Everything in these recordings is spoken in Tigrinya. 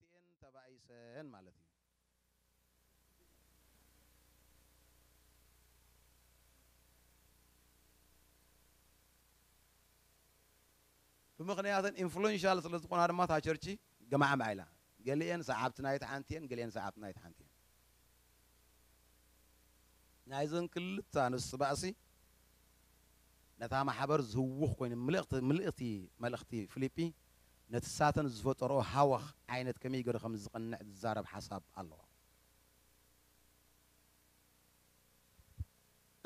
ዝኾነ ክልቲኤን ተባኢሰን ማለት እዩ። ብምኽንያተን ኢንፍሉዌንሻል ስለ ዝኾና ድማ እታ ቸርቺ ገማዕማዕ ኢላ። ገሊኤን ሰዓብቲ ናይቲ ሓንቲ እየን፣ ገሊኤን ሰዓብቲ ናይቲ ሓንቲ እየን። ናይዘን ክልተ ኣንስቲ ባእሲ ነታ ማሕበር ዝህውኽ ኮይኑ ምልእኽቲ መልእኽቲ ፊሊጲ ነቲ ሳተን ዝፈጠርኦ ሃወኽ ዓይነት ከመይ ገሩ ከም ዝቕንዕ ዝዛረብ ሓሳብ ኣለዎ።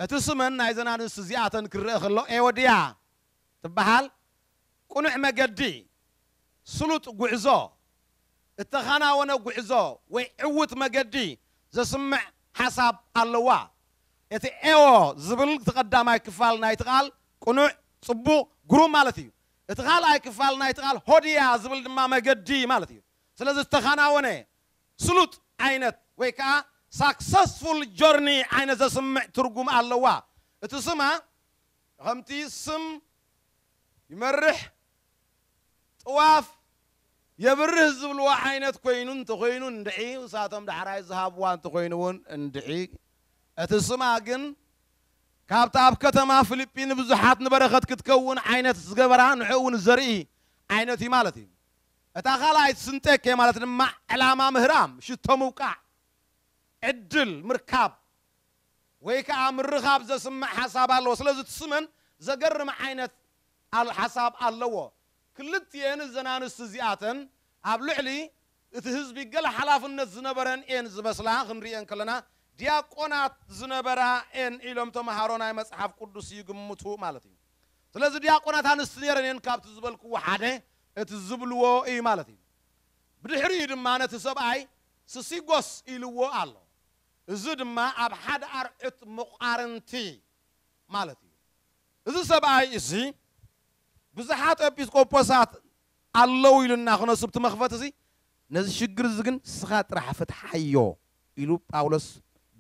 እቲ ስመን ናይዘን ኣንስቲ እዚኣተን ክረኣ ከሎ ኤዎድያ ትበሃል ቅኑዕ መገዲ፣ ስሉጥ ጉዕዞ፣ እተኸናወነ ጉዕዞ ወይ ዕዉት መገዲ ዘስምዕ ሓሳብ ኣለዋ። እቲ ኤዎ ዝብል እቲ ቀዳማይ ክፋል ናይቲ ቃል ቅኑዕ፣ ጽቡቕ፣ ግሩም ማለት እዩ። እቲ ካልኣይ ክፋል ናይቲ ቃል ሆዲያ ዝብል ድማ መገዲ ማለት እዩ። ስለዚ ዝተኻናወነ፣ ስሉጥ፣ ዓይነት ወይ ከኣ ሳክሰስፉል ጆርኒ ዓይነት ዘስምዕ ትርጉም ኣለዋ። እቲ ስማ ከምቲ ስም ይመርሕ ጥዋፍ የብርህ ዝብልዎ ዓይነት ኮይኑ እንተኾይኑ እንድዒ እሳቶም ዳሕራይ ዝሃብዋ እንተኾይኑ እውን እንድዒ እቲ ስማ ግን ካብታ ኣብ ከተማ ፍሊጲ ንብዙሓት ንበረኸት ክትከውን ዓይነት ዝገበራ ንዕኡውን ዘርኢ ዓይነት እዩ ማለት እዩ። እታ ካልኣይት ስንጠኬ ማለት ድማ ዕላማ ምህራም፣ ሽቶ ምውቃዕ፣ ዕድል ምርካብ ወይ ከኣ ምርኻብ ዘስምዕ ሓሳብ ኣለዎ። ስለዚ እቲ ስመን ዘገርም ዓይነት ሓሳብ ኣለዎ። ክልቲኤን እዘን ኣንስቲ እዚኣተን ኣብ ልዕሊ እቲ ህዝቢ ገለ ሓላፍነት ዝነበረን እየን ዝመስላ፣ ክንርእየን ከለና ዲያቆናት ዝነበራ እየን ኢሎም ተመሃሮ ናይ መጽሓፍ ቅዱስ ይግምቱ ማለት እዩ። ስለዚ ዲያቆናት ኣንስቲ ነይረን እየን ካብቲ ዝበልክዎ ሓደ እቲ ዝብልዎ እዩ ማለት እዩ። ብድሕሪኡ ድማ ነቲ ሰብኣይ ስሲጎስ ኢልዎ ኣሎ። እዚ ድማ ኣብ ሓደ ኣርዑት መቋርንቲ ማለት እዩ። እዚ ሰብኣይ እዚ ብዙሓት ኤጲስቆጶሳት ኣለዉ ኢሉና ክነሱ ብቲ መኽፈቲ እዚ ነዚ ሽግር እዚ ግን ስኻ ጥራሕ ፍትሓዮ ኢሉ ጳውሎስ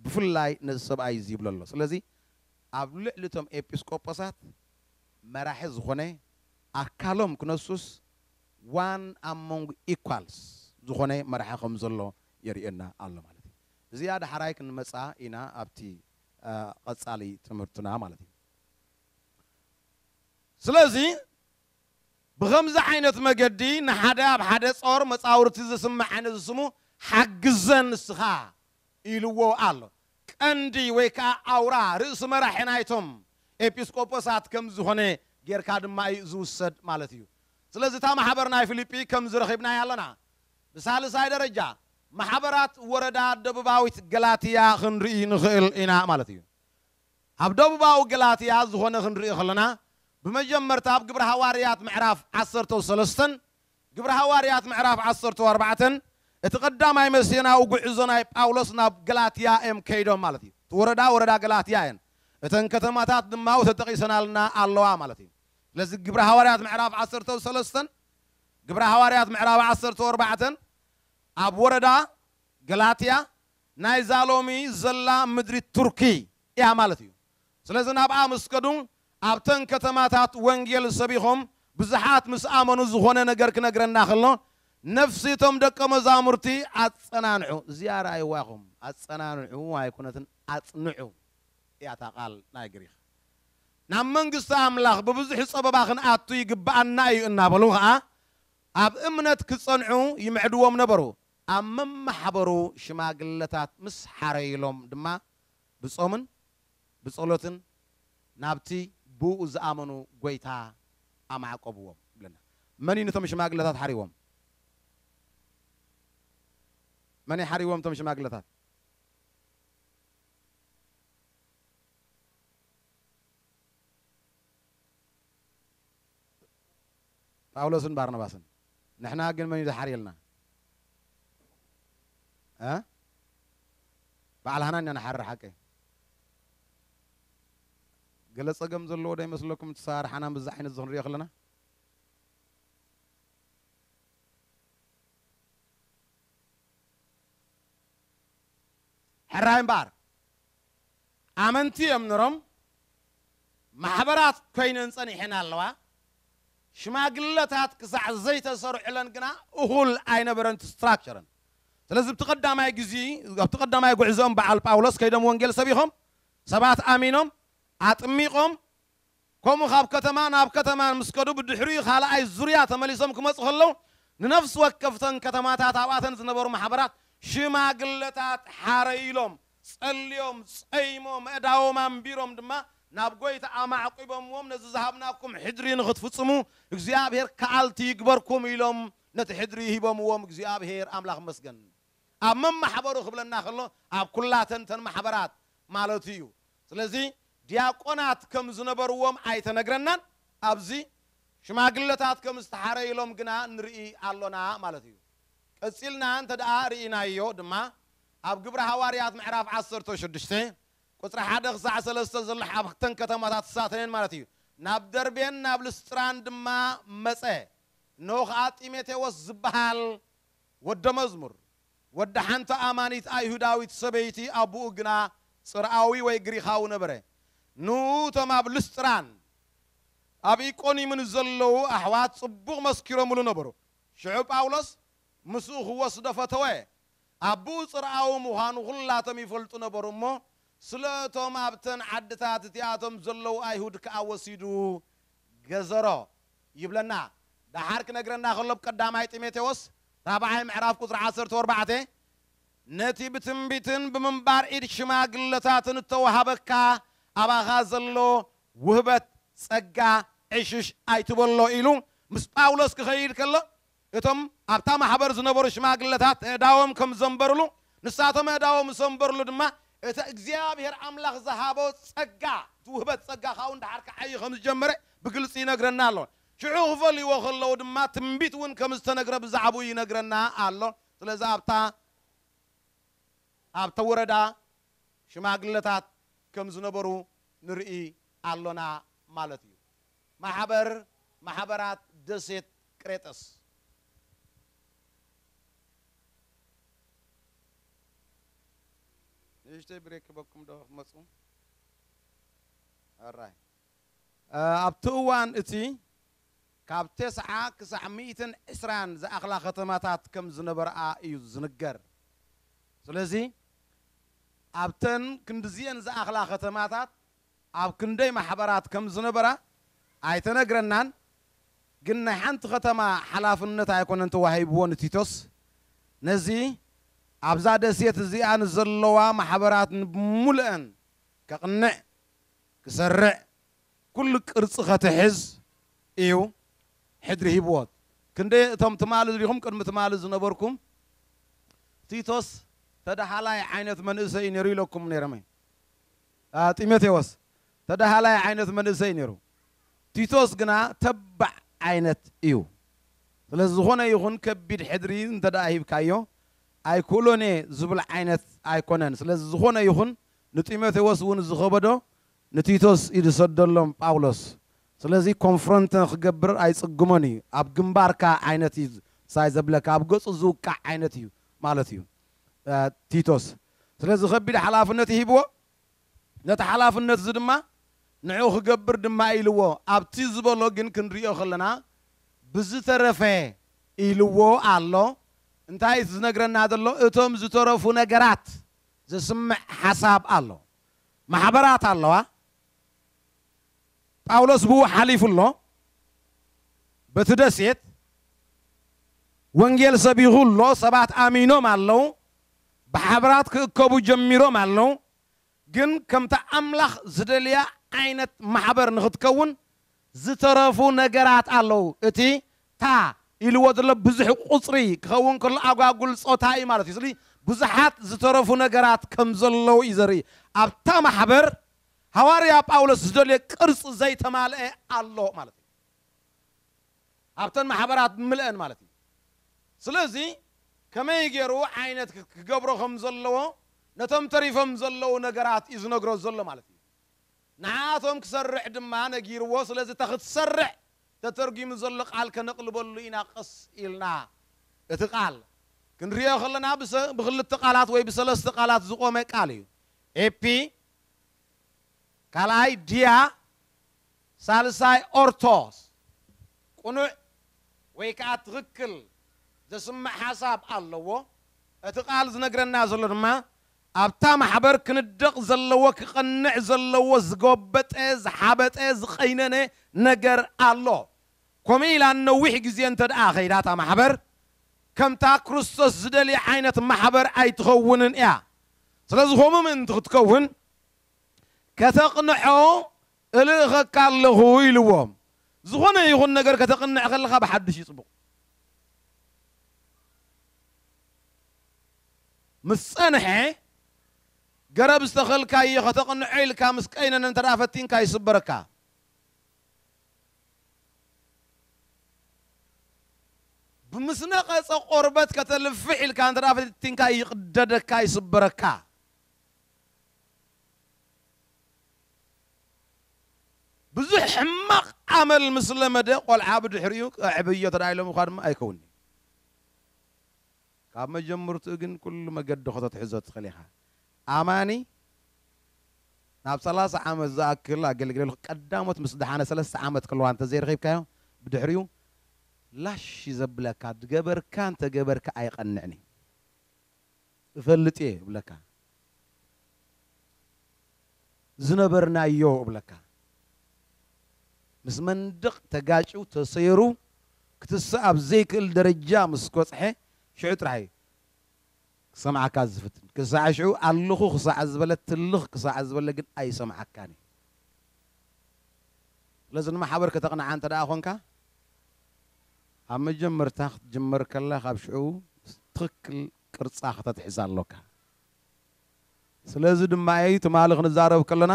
ብፍላይ ነዚ ሰብኣይ እዚ ይብሎ ኣሎ ስለዚ ኣብ ልዕሊ እቶም ኤጲስቆጶሳት መራሒ ዝኾነ ኣካሎም ክነሱስ ዋን ኣሞንግ ኢኳልስ ዝኾነ መራሒ ከም ዘሎ የርእየና ኣሎ ማለት እዩ እዚኣ ዳሕራይ ክንመጽኣ ኢና ኣብቲ ቐጻሊ ትምህርትና ማለት እዩ ስለዚ ብኸምዚ ዓይነት መገዲ ንሓደ ኣብ ሓደ ጾር መጻውርቲ ዝስማዕ ንዝስሙ ሓግዘ ንስኻ ኢልዎ ኣሎ። ቀንዲ ወይ ከኣ ኣውራ፣ ርእሲ መራሒ ናይቶም ኤጲስቆጶሳት ከም ዝኾነ ጌርካ ድማ እዩ ዝውሰድ ማለት እዩ። ስለዚ እታ ማሕበር ናይ ፊሊጲ ከምዚ ረኺብናያ ኣሎና። ብሳልሳይ ደረጃ ማሕበራት ወረዳ ደቡባዊት ገላትያ ክንርኢ ንኽእል ኢና ማለት እዩ። ኣብ ደቡባዊ ገላትያ ዝኾነ ክንርኢ ከሎና ብመጀመርታ ኣብ ግብሪ ሃዋርያት ምዕራፍ ዓሰርተው ሰለስተን ግብሪ ሃዋርያት ምዕራፍ ዓሰርተው ኣርባዕተን እቲ ቀዳማይ መሲዮናዊ ጉዕዞ ናይ ጳውሎስ ናብ ገላትያ እዮም ከይዶም ማለት እዩ እቲ ወረዳ ወረዳ ገላትያ እየን እተን ከተማታት ድማው ተጠቂሰናልና ኣለዋ ማለት እዩ ስለዚ ግብሪ ሃዋርያት ምዕራፍ ዓሰርተው ሰለስተን ግብሪ ሃዋርያት ምዕራፍ ዓሰርተው ኣርባዕተን ኣብ ወረዳ ገላትያ ናይዛ ሎሚ ዘላ ምድሪ ቱርኪ እያ ማለት እዩ። ስለዚ ናብኣ ምስ ከዱ ኣብተን ከተማታት ወንጌል ሰቢኾም ብዙሓት ምስ ኣመኑ ዝኾነ ነገር ክነግረና ከሎ ነፍሲ እቶም ደቀ መዛሙርቲ ኣጸናንዑ እዚኣ ርኣይዋ ኢኹም ኣጸናንዑ ኣይኮነትን ኣጽንዑ እያ እታ ቃል ናይ ግሪኽ ናብ መንግስቲ ኣምላኽ ብብዙሕ ጸበባ ክንኣቱ ይግብኣና እዩ እናበሉ ኸኣ ኣብ እምነት ክጸንዑ ይምዕድዎም ነበሩ። ኣብ መማሕበሩ ሽማግለታት ምስ ሓረዩሎም ድማ ብጾምን ብጸሎትን ናብቲ ብእኡ ዝኣመኑ ጐይታ ኣማዕቈብዎም ይብለና። መን እዩ ነቶም ሽማግለታት ሓርይዎም? መን እዩ ሓርይዎም እቶም ሽማግለታት? ጳውሎስን ባርናባስን ንሕና ግን መን እዩ ዝሓርየልና እ በዓል ሃና ኢና ንሓርር ሓቂ ገለ ጸገም ዘለዎ ዶ ይመስለኩም እቲ ሰራርሓና ምስዚ ዓይነት እዚ ክንሪኦ ከለና ሕራይ እምበኣር ኣመንቲ እዮም ነሮም ማሕበራት ኮይነን ጸኒሐን ኣለዋ ሽማግለታት ክሳዕ ዘይተሰርዑለን ግና እኹል ኣይነበረን እቲ ስትራክቸረን ስለዚ ኣብቲ ቀዳማይ ግዚ ኣብቲ ቀዳማይ ጉዕዘኦም በዓል ጳውሎስ ከይዶም ወንጌል ሰቢኾም ሰባት ኣሚኖም ኣጥሚቆም ከምኡ ካብ ከተማ ናብ ከተማን ምስ ከዱ ብድሕሪኡ ካልኣይ ዙርያ ተመሊሶም ክመጹ ከለዉ ንነፍሲ ወከፍተን ከተማታት ኣብኣተን ዝነበሩ ማሕበራት ሽማግለታት ሓረይ ኢሎም ጸልዮም ጸይሞም ኣእዳዎም ኣንቢሮም ድማ ናብ ጐይታ ኣማዕቊቦምዎም ነዚ ዝሃብናኩም ሕድሪ ንኽትፍጽሙ እግዚኣብሄር ከኣልቲ ይግበርኩም ኢሎም ነቲ ሕድሪ ሂቦምዎም እግዚኣብሄር ኣምላኽ ይመስገን። ኣብ መማሕበሩ ክብለና ከሎ ኣብ ኩላተን እተን ማሕበራት ማለቱ እዩ ስለዚ ድያቆናት ከም ዝነበርዎም ኣይተነግረናን ኣብዚ ሽማግለታት ከም ዝተሓረይሎም ግና ንርኢ ኣሎና ማለት እዩ ቀጺልና እንተ ደኣ ርኢናዮ ድማ ኣብ ግብረ ሃዋርያት ምዕራፍ ዓሰርተ ሽዱሽተ ቁጽሪ ሓደ ክሳዕ ሰለስተ ዘሎ ኣብተን ከተማታት ተሳተየን ማለት እዩ ናብ ደርቤን ናብ ልስጥራን ድማ መጸ እነሆ ከኣ ጢሞቴዎስ ዝበሃል ወደ መዝሙር፣ ወዲ ሓንቲ ኣማኒት ኣይሁዳዊት ሰበይቲ፣ ኣቡኡ ግና ጽርኣዊ ወይ ግሪኻዊ ነበረ። ን እቶም ኣብ ልስጥራን ኣብ ኢቆንዩምን ዘለዉ ኣሕዋት ጽቡቕ መስኪሮምሉ ነበሩ። ሽዑ ጳውሎስ ምስኡ ክወስዶ ፈተወ። ኣቡኡ ጽርኣዊ ምዃኑ ኩላቶም ይፈልጡ ነበሩ እሞ፣ ስለ እቶም ኣብተን ዓድታት እቲኣቶም ዘለዉ ኣይሁድ ከኣ ወሲዱ ገዘሮ። ይብለና ደሓር ክነግረና ከሎ ብ ቀዳማይ ጢሞቴዎስ ራብዓይ ምዕራፍ ቁጽሪ ዓሰርተው ኣርባዕተ ነቲ ብትንቢትን ብምንባር ኢድ ሽማግለታትን እተዋሃበካ ኣባኻ ዘሎ ውህበት ጸጋ ዕሽሽ ኣይትበሎ ኢሉ ምስ ጳውሎስ ክኸይድ ከሎ እቶም ኣብታ ማሕበር ዝነበሩ ሽማግለታት ኣእዳዎም ከም ዘንበሩሉ፣ ንሳቶም ኣእዳዎም ምስ ኣንበሩሉ ድማ፣ እቲ እግዚኣብሄር ኣምላኽ ዝሃቦ ጸጋ፣ እቲ ውህበት ጸጋ ካብኡ ንደሓር ክዓዪ ከም ዝጀመረ ብግልጺ ይነግረና ኣሎ። ሽዑ ክፈልይዎ ከለዉ ድማ ትንቢት እውን ከም ዝተነግረ ብዛዕባኡ ይነግረና ኣሎ። ስለዚ ኣብታ ኣብቲ ወረዳ ሽማግለታት ከም ዝነበሩ ንርኢ ኣሎና ማለት እዩ። ማሕበር ማሕበራት ደሴት ቅሬጠስ። ንእሽተይ ብሬክ ክበኩም ዶ ክትመጹ ኣራይ። ኣብቲ እዋን እቲ ካብ ተስዓ ክሳዕ ሚእትን ዕስራን ዝኣኽላ ከተማታት ከም ዝነበርኣ እዩ ዝንገር። ስለዚ ኣብተን ክንድዚኤን ዝኣኽላ ከተማታት ኣብ ክንደይ ማሕበራት ከም ዝነበራ ኣይተነግረናን፣ ግን ናይ ሓንቲ ከተማ ሓላፍነት ኣይኮነን ተዋሂብዎ ንቲቶስ፣ ነዚ ኣብዛ ደሴት እዚኣ ንዘለዋ ማሕበራት ንብምሉኤን ከቕንዕ፣ ክሰርዕ፣ ኩሉ ቅርጺ ከትሕዝ እዩ ሕድሪ ሂብዎ፣ ክንደይ እቶም ትማሊ ሪኹም ቅድሚ ትማሊ ዝነበርኩም ቲቶስ ተዳሃላይ ዓይነት መንእሰይ እዩ ነይሩ ኢለኩም ነይረመይ። ጢሞቴዎስ ተደሃላይ ዓይነት መንእሰይ ነይሩ፣ ቲቶስ ግና ተባዕ ዓይነት እዩ። ስለዚ ዝኾነ ይኹን ከቢድ ሕድሪ እንተድኣ ሂብካዮ ኣይክእሎን እየ ዝብል ዓይነት ኣይኮነን። ስለዚ ዝኾነ ይኹን ንጢሞቴዎስ እውን ዝኸበዶ ንቲቶስ እዩ ዝሰደሎም ጳውሎስ። ስለዚ ኮንፍሮንት ንክገብር ኣይጽግሞን እዩ፣ ኣብ ግንባርካ ዓይነት እዩ ሳይ ዘብለካ፣ ኣብ ገጹ ዝውቃዕ ዓይነት እዩ ማለት እዩ ቲቶስ። ስለዚ ከቢድ ሓላፍነት ሂብዎ፣ ነቲ ሓላፍነት'ዚ ድማ ንዕኡ ክገብር ድማ ኢልዎ፣ ኣብ'ቲ ዝበሎ ግን ክንርእዮ ከለና ብዝተረፈ ኢልዎ ኣሎ፣ እንታይ እቲ ዝነግረና ዘሎ እቶም ዝተረፉ ነገራት ዘስምዕ ሓሳብ ኣሎ፣ ማሕበራት ኣለዋ፣ ጳውሎስ ብኡ ሓሊፉ ኣሎ፣ በቲ ደሴት ወንጌል ሰቢኹ ኣሎ፣ ሰባት ኣሚኖም ኣለዉ፣ ብሓብራት ክእከቡ ጀሚሮም ኣለዉ፣ ግን ከምቲ ኣምላኽ ዝደልያ ዓይነት ማሕበር ንኽትከውን ዝተረፉ ነገራት ኣለዉ። እቲ እታ ኢልዎ ዘሎ ብዙሕ ቁጽሪ ክኸውን ከሎ ኣጓጉል ጾታ እዩ ማለት እዩ። ስለዚ ብዙሓት ዝተረፉ ነገራት ከም ዘለዉ እዩ ዘርኢ። ኣብታ ማሕበር ሃዋርያ ጳውሎስ ዝደልዮ ቅርጺ ዘይተማልኤ ኣሎ ማለት እዩ። ኣብተን ማሕበራት ብምልእን ማለት እዩ ስለዚ ከመይ ገሩ ዓይነት ክገብሮ ከም ዘለዎ ነቶም ተሪፎም ዘለዉ ነገራት እዩ ዝነግሮ ዘሎ ማለት እዩ ንዓኣቶም ክሰርዕ ድማ ነጊርዎ ስለዚ እታ ክትሰርዕ ተተርጉሙ ዘሎ ቃል ከነቅልበሉ ኢና ቀስ ኢልና እቲ ቃል ክንሪኦ ከለና ብክልተ ቃላት ወይ ብሰለስተ ቃላት ዝቆመ ቃል እዩ ኤፒ ካልኣይ ዲያ ሳልሳይ ኦርቶስ፣ ቅኑዕ ወይ ከኣ ትኽክል ዘስምዕ ሓሳብ ኣለዎ። እቲ ቃል ዝነግረና ዘሎ ድማ ኣብታ ማሕበር ክንደቕ ዘለዎ ክቐንዕ ዘለዎ ዝጎበጠ ዝሓበጠ ዝቐይነነ ነገር ኣሎ። ከምኡ ኢላ ንነዊሕ ግዜ እንተድኣ ከይዳ እታ ማሕበር ከምታ ክርስቶስ ዝደልያ ዓይነት ማሕበር ኣይትኸውንን እያ። ስለዚ ከምኡ ምእንቲ ክትከውን ከተቕንዖ እልእኸካ ኣለኹ ኢልዎም። ዝኾነ ይኹን ነገር ከተቕንዕ ከለኻ ብሓድሽ እዩ ጽቡቕ። ምስ ጸንሐ፣ ገረብ ዝተኸልካዮ ከተቕንዖ ኢልካ ምስ ቀይነነ እንተድኣ ፈቲንካ ይስበረካ። ብምስ ነቐጸ ቆርበት ከተልፍሕ ኢልካ እንተድኣ ፈቲንካ ይቕደደካ፣ ይስበረካ። ብዙሕ ሕማቕ ኣመል ምስ ለመደ ቆልዓ ብድሕሪኡ ከዕብዮ ተዳኢሎም እዃ ድማ ኣይከውንን'ዩ። ካብ መጀምርትኡ ግን ኩሉ መገዲ ከተትሕዞ ትኽእል ኢኻ። ኣማኒ ናብ ሰላሳ ዓመት ዝኣክል ኣገልጊለልኩ፣ ቀዳሞት ምስ ደሓነ ሰለስተ ዓመት ከለዋ እንተዘይረኺብካዮ ብድሕሪኡ ላሽ እዩ ዘብለካ፣ ድገበርካ እንተገበርካ ኣይቐንዕን'ዩ። እፈልጥ እየ እብለካ ዝነበርናዮ እብለካ ምስ መንድቕ ተጋጭው ተሰይሩ ክትሰኣብ ዘይክእል ደረጃ ምስ ኮጽሐ ሽዑ ጥራሕ እዩ ክሰምዓካ ዝፍትን ክሳዕ ሽዑ ኣለኹ ክሳዕ ዝበለ ትልኽ ክሳዕ ዝበለ ግን ኣይሰምዓካን እዩ ስለዚ ንማሕበር ከተቕንዓ እንተ ደኣ ኾንካ ኣብ መጀመርታ ክትጅመር ከላ ካብ ሽዑ ትኽክል ቅርጻ ከተትሕዝ ኣሎካ። ስለዚ ድማ ኢዩ ትማሊ ክንዛረብ ከለና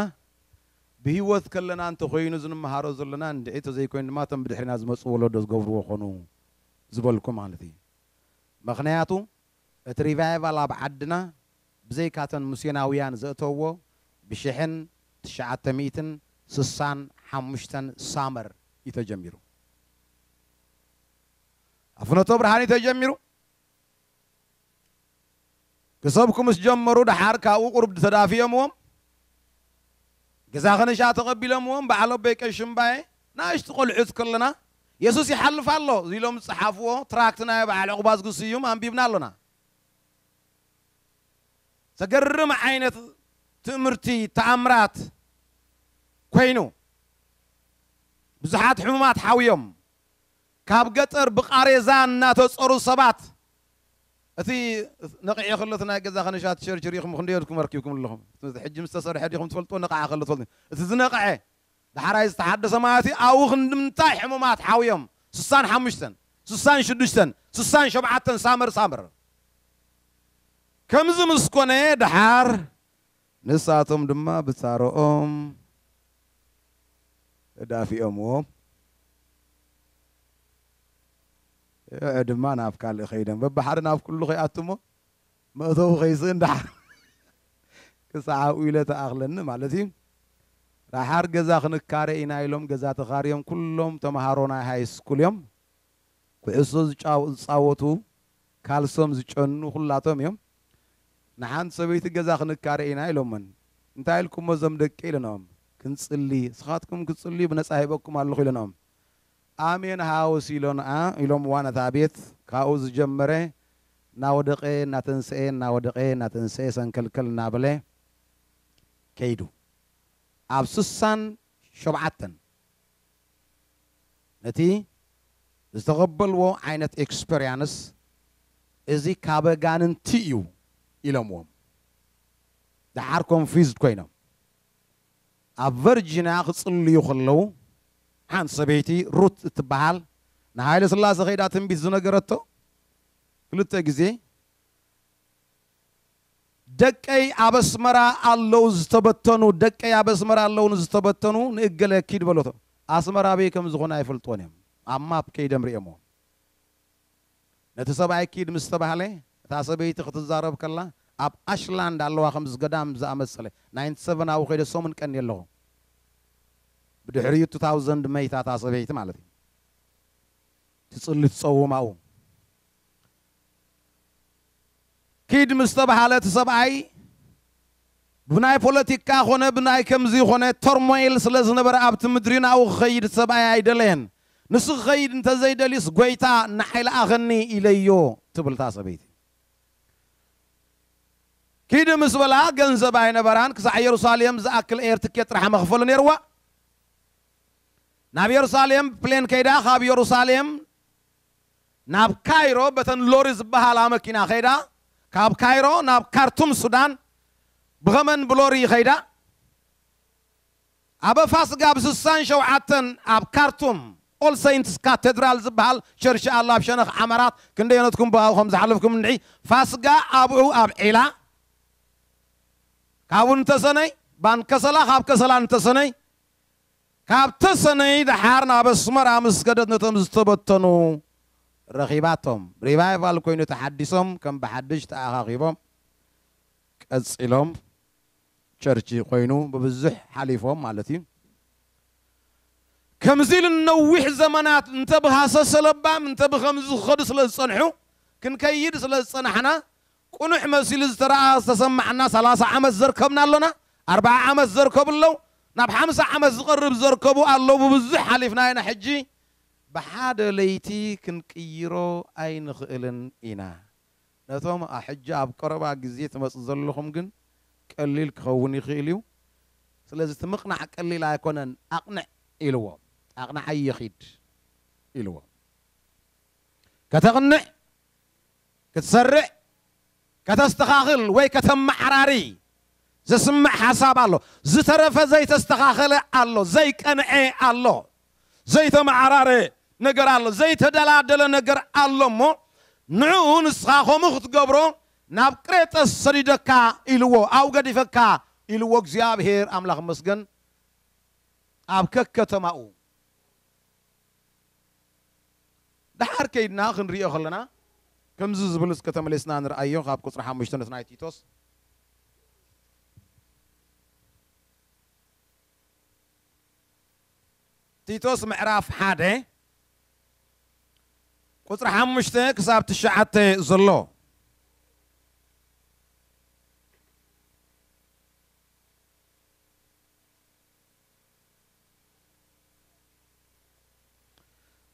ብህይወት ከለና እንተ ኮይኑ እዚ ንመሃሮ ዘሎና እንድዒ እንተ ዘይኮይኑ ድማ እቶም ብድሕሪና ዝመጹ ወለዶ ዝገብርዎ ኮኑ ዝበልኩ ማለት ኢዩ። መኽንያቱ እቲ ሪቫይቫል ኣብ ዓድና ብዘይካ እተን ምስዮናውያን ዘእተውዎ ብሽሕን ትሽዓተ ሚእትን ስሳን ሓሙሽተን ሳመር ኢዩ ተጀሚሩ። ኣብ ፍኖተብርሃን ኢዩ ተጀሚሩ። ክሰብኩ ምስ ጀመሩ ደሓር ካብኡ ቁርብ ተዳፊኦምዎም ገዛ ከነሻ ተቐቢሎምዎም በዓል ኣቦይ ቀሺ እምባየ ናእሽቱ ቆልዑት ከለና የሱስ ይሓልፍ ኣሎ ዚሎም ዝጸሓፍዎ ትራክት ናይ በዓል ዑቕባዝጊ ስዩም ኣንቢብና ኣሎና። ዘገርም ዓይነት ትእምርቲ ተኣምራት ኮይኑ ብዙሓት ሕሙማት ሓውዮም ካብ ገጠር ብቓሬዛ እናተጸሩ ሰባት እቲ ነቒዑ ከሎ እቲ ናይ ገዛ ከነሻ ትሸርሽሩ ኢኹም ክንደይ ኢኹም ኣርኪብኩም ኣለኹም እቲ ሕጂ ምስ ተሰርሐ ዲኹም ትፈልጥዎ ነቓዐ ከሎ ትፈልጡ እቲ ዝነቐዐ ዳሕራይ ዝተሓደሰ ማለት እዩ ኣብኡ ክንድምንታይ ሕሙማት ሓውዮም ስሳን ሓሙሽተን ስሳን ሽዱሽተን ስሳን ሸውዓተን ሳመር ሳመር ከምዚ ምስ ኮነ ደሓር ንሳቶም ድማ ብጻሮኦም ተዳፊኦምዎ እዕ ድማ ናብ ካልእ ከይዶም በብሓደ ናብ ኩሉ ከይኣቱሞ መእተዊ ከይስእን ደሓር ክሳዕ ኣብኡ ኢለ ተኣኽለኒ ማለት እዩ ደሓር ገዛ ክንካረ ኢና ኢሎም ገዛ ተኻርዮም ኩሎም ተምሃሮ ናይ ሃይስኩል እዮም ኩዕሶ ዝጻወቱ ካልሶም ዝጨኑ ኩላቶም እዮም ንሓንቲ ሰበይቲ ገዛ ክንካረ ኢና ኢሎመን እንታይ ኢልኩሞ እዞም ደቂ ኢለናኦም ክንጽሊ ንስኻትኩም ክትጽልዩ ብነጻ ሂበኩም ኣለኹ ኢለናኦም ኣሜን ሃውስ ኢሎንኣ ኢሎምዋ ነታ ቤት ካብኡ ዝጀመረ እናወደቐ እናተንስኤ እናወደቐ እናተንስኤ ሰንከልከል እናበለ ከይዱ ኣብ ስሳን ሸውዓተን ነቲ ዝተቐበልዎ ዓይነት ኤክስፐርያንስ እዚ ካብ ኣጋንንቲ እዩ ኢሎምዎም ደሓር ኮንፊዝድ ኮይኖም ኣብ ቨርጂንያ ክጽልዩ ከለዉ ሓንቲ ሰበይቲ ሩት እትበሃል ንሃይለስላሰ ከይዳ ትንቢት ዝነገረቶ ክልተ ግዜ ደቀይ ኣብ ኣስመራ ኣለው ዝተበተኑ ደቀይ ኣብ ኣስመራ ኣለው ንዝተበተኑ ንእገለ ኪድ በሎቶ ኣስመራ ኣበይ ከም ዝኾነ ኣይፈልጥዎን እዮም ኣብ ማፕ ከይደም ሪኦምዎ ነቲ ሰብኣይ ኪድ ምስ ተባህለ እታ ሰበይቲ ክትዛረብ ከላ ኣብ ኣሽላንድ ኣለዋ ከምዚ ገዳም ዝኣመሰለ ናይንቲ ሰቨን ኣብኡ ከይደ ሰሙን ቀንየ ኣለኹ ብድሕሪኡ ቱ ታውዘንድ መይታ እታ ሰበይቲ ማለት እዩ ትጽሊ ትጸውም ኣብኡ ኪድ ምስ ተብሃለ እቲ ሰብኣይ ብናይ ፖለቲካ ኮነ ብናይ ከምዚ ኮነ ተርሞይል ስለ ዝነበረ ኣብቲ ምድሪ ናብኡ ክኸይድ እቲ ሰብኣይ ኣይደለየን። ንሱ ክኸይድ እንተ ዘይደልዩስ ጐይታ ንዓይ ለኣኸኒ ኢለዮ ትብል እታ ሰበይቲ። ኪድ ምስ በላ ገንዘብ ኣይነበራን፣ ክሳዕ የሩሳሌም ዝኣክል ኤር ትኬት ጥራሕ መኽፈሊ ነይርዋ። ናብ የሩሳሌም ብፕሌን ከይዳ ካብ የሩሳሌም ናብ ካይሮ በተን ሎሪ ዝበሃላ መኪና ከይዳ ካብ ካይሮ ናብ ካርቱም ሱዳን ብኸመን ብሎሪ ይኸይዳ ኣበ ፋስጋ ብ ስሳን ሸውዓተን ኣብ ካርቱም ኦል ሰይንትስ ካተድራል ዝበሃል ቸርሺ ኣሎ ኣብ ሸነኽ ዓመራት ክንደዮነትኩም ብኣኡ ከም ዝሓለፍኩም እንድዒ ፋስጋ ኣብኡ ኣብ ዒላ ካብኡ ንተሰነይ ባን ከሰላ ካብ ከሰላ ንተሰነይ ካብ ተሰነይ ደሓር ናብ ኣስመራ ምስ ከደት ነቶም ዝተበተኑ ረኺባቶም። ሪቫይቫል ኮይኑ ተሓዲሶም ከም ብሓድሽ ተኣኻኺቦም ቀጺሎም። ቸርች ኮይኑ ብብዙሕ ሓሊፎም ማለት እዩ። ከምዚ ኢሉ ንነዊሕ ዘመናት እንተ ብሃሰሰ ለባም እንተ ብኸምዚ ክኸዱ ስለ ዝጸንሑ ክንከይድ ስለ ዝጸናሕና ቁኑዕ መሲሉ ዝተራኣ ዝተሰማዓና ሰላሳ ዓመት ዘርከብና ኣሎና ኣርባዓ ዓመት ዘርከቡ ኣለው ናብ ሓምሳ ዓመት ዝቀርብ ዘርከቡ ኣሎ ብብዙሕ ሓሊፍና ኢና ሕጂ ብሓደ ለይቲ ክንቅይሮ ኣይንክእልን ኢና ነቶም ኣሕጂ ኣብ ቀረባ ግዜ ትመጹ ዘለኹም ግን ቀሊል ክኸውን ይክእል እዩ ስለዚ እቲ ምቅናዕ ቀሊል ኣይኮነን ኣቅንዕ ኢልዎ ኣቅናዓዮ ኪድ ኢልዎ ከተቅንዕ ክትሰርዕ፣ ከተስተኻኽል ወይ ከተመዓራሪ ዝስምዕ ሓሳብ ኣሎ። ዝተረፈ ዘይተስተኻኸለ ኣሎ፣ ዘይቀንዔ ኣሎ፣ ዘይተመዓራረ ነገር ኣሎ፣ ዘይተደላደለ ነገር ኣሎ እሞ ንዕኡ ንስኻ ከምኡ ክትገብሮ ናብ ቅሬጠስ ሰዲደካ ኢልዎ፣ ኣብኡ ገዲፈካ ኢልዎ እግዚኣብሄር ኣምላኽ ይመስገን ኣብ ከከተማኡ። ደሓር ከይድና ክንርእዮ ከለና ከምዚ ዝብል እስከ ተመሊስና ንርኣዮ ካብ ቁጽሪ ሓሙሽተ ነቲ ናይ ቲቶስ። ቲቶስ ምዕራፍ ሓደ ቁጽሪ ሓሙሽተ ክሳብ ትሽዓተ ዘሎ።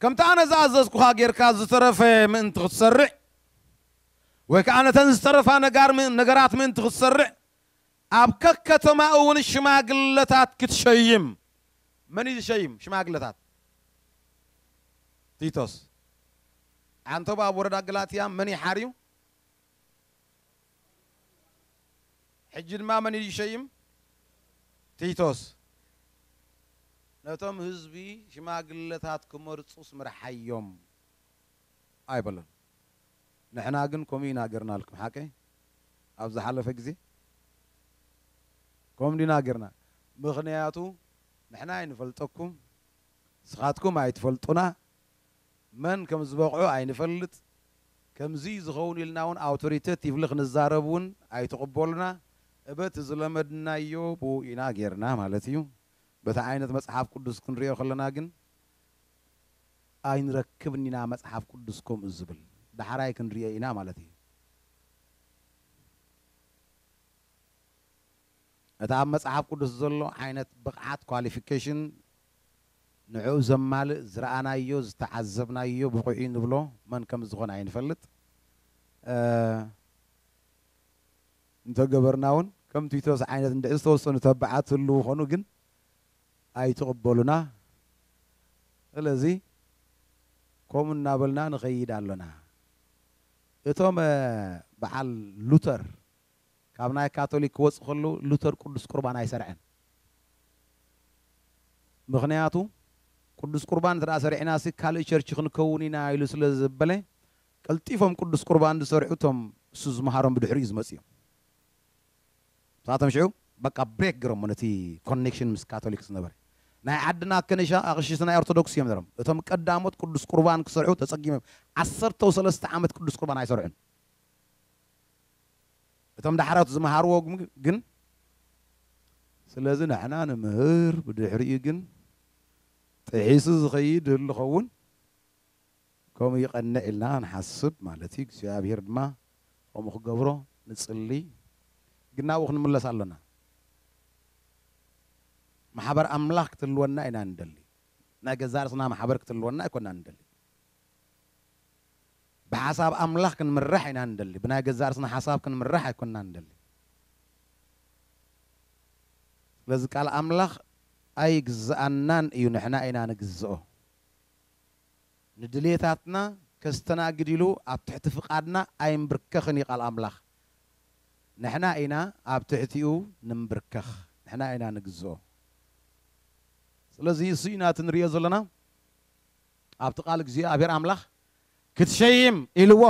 ከምቲ ኣነ ዝኣዘዝኩኻ ጌርካ ዝተረፈ ምእንቲ ኽትሰርዕ፣ ወይ ከኣ ነተን ዝተረፋ ነጋር ነገራት ምእንቲ ኽትሰርዕ፣ ኣብ ከከተማ እውን ሽማግለታት ክትሸይም። መን እዩ ዝሸይም ሽማግለታት? ቲቶስ። ዓንተቦ ኣብ ወረዳ ገላትያ መን እዩ ሓርዩ? ሕጂ ድማ መን እዩ ዝሸይም? ቲቶስ ነቶም ህዝቢ ሽማግለታት ክመርጹስ ምርሓዮም ኣይበሎን። ንሕና ግን ከምኡ ኢና ጌርናልኩም። ሓቀይ? ኣብ ዝሓለፈ ግዜ ከምኡ ዲና ጌርና? ምኽንያቱ ንሕና ኣይንፈልጠኩም ንስኻትኩም ኣይትፈልጡና መን ከም ዝበቕዑ ኣይንፈልጥ፣ ከምዚ'ዩ ዝኸውን ኢልና'ውን ኣውቶሪተት ይብሊ ክንዛረብ'ውን ኣይትቕበሉና፣ እበ እቲ ዝለመድናዮ ብኡ ኢና ጌርና ማለት'ዩ። በቲ ዓይነት መጽሓፍ ቅዱስ ክንርእዮ ከለና ግን ኣይንረክብን ኢና፣ መጽሓፍ ቅዱስ ከምኡ ዝብል ዳሕራይ ክንርእዮ ኢና ማለት'ዩ። ነቲ ኣብ መጽሓፍ ቅዱስ ዘሎ ዓይነት ብቕዓት፣ ኳሊፊኬሽን፣ ንዕኡ ዘማልእ ዝረኣናዮ ዝተዓዘብናዮ ብቑዕ'ዩ ንብሎ መን ከም ዝኾነ ኣይንፈልጥ እንተ ገበርና'ውን ከም ቲቶስ ዓይነት እንድሕር ዝተወሰኑ ተባዓት ህልዉ ኾኑ ግን ኣይትቕበሉና ስለዚ ከምኡ እናበልና ንኸይድ ኣሎና እቶም በዓል ሉተር ካብ ናይ ካቶሊክ ክወጽእ ከሎ ሉተር ቅዱስ ቁርባን ኣይሰርዐን። ምኽንያቱ ቅዱስ ቁርባን እንተ ሰሪዕናሲ ካልእ ቸርች ክንከውን ኢና ኢሉ ስለ ዘበለ ቀልጢፎም ቅዱስ ቁርባን ዝሰርዑ እቶም ንሱ ዝመሃሮም ብድሕሪኡ ዝመጹ እዮም። ንሳቶም ሽዑ በቃ ብሬክ ገይሮሞ ነቲ ኮኔክሽን ምስ ካቶሊክ ዝነበረ። ናይ ዓድና ከኒሻ ኣቕሽሽቲ ናይ ኦርቶዶክስ እዮም ነይሮም። እቶም ቀዳሞት ቅዱስ ቁርባን ክሰርዑ ተጸጊሞም ዓሰርተው ሰለስተ ዓመት ቅዱስ ቁርባን ኣይሰርዑን። እቶም ዳሕሮት ዝመሃርዎ ግን ስለዚ ንሕና ንምህር ብድሕሪኡ ግን ጥሒሱ ዝኸይድ ይህሉ ዝኸውን ከምኡ ይቐንዕ ኢልና ንሓስብ ማለት እዩ እግዚኣብሄር ድማ ከምኡ ክገብሮ ንጽሊ ግን ናብኡ ክንምለስ ኣሎና ማሕበር ኣምላኽ ክትህልወና ኢና ንደሊ ናይ ገዛእ ርእስና ማሕበር ክትህልወና ኣይኮናን ንደሊ ብሓሳብ ኣምላኽ ክንምራሕ ኢና ንደሊ ብናይ ገዛእ ርስና ሓሳብ ክንምራሕ ኣይኮናን ንደሊ ስለዚ ቃል ኣምላኽ ኣይግዝኣናን እዩ ንሕና ኢና ንግዝኦ ንድሌታትና ከስተናግድ ኢሉ ኣብ ትሕቲ ፍቃድና ኣይምብርከኽን እዩ ቃል ኣምላኽ ንሕና ኢና ኣብ ትሕቲኡ ንምብርከኽ ንሕና ኢና ንግዝኦ ስለዚ እሱ ኢና እቲ ንሪኦ ዘለና ኣብቲ ቃል እግዚኣብሔር ኣምላኽ ክትሸይም ኢልዎ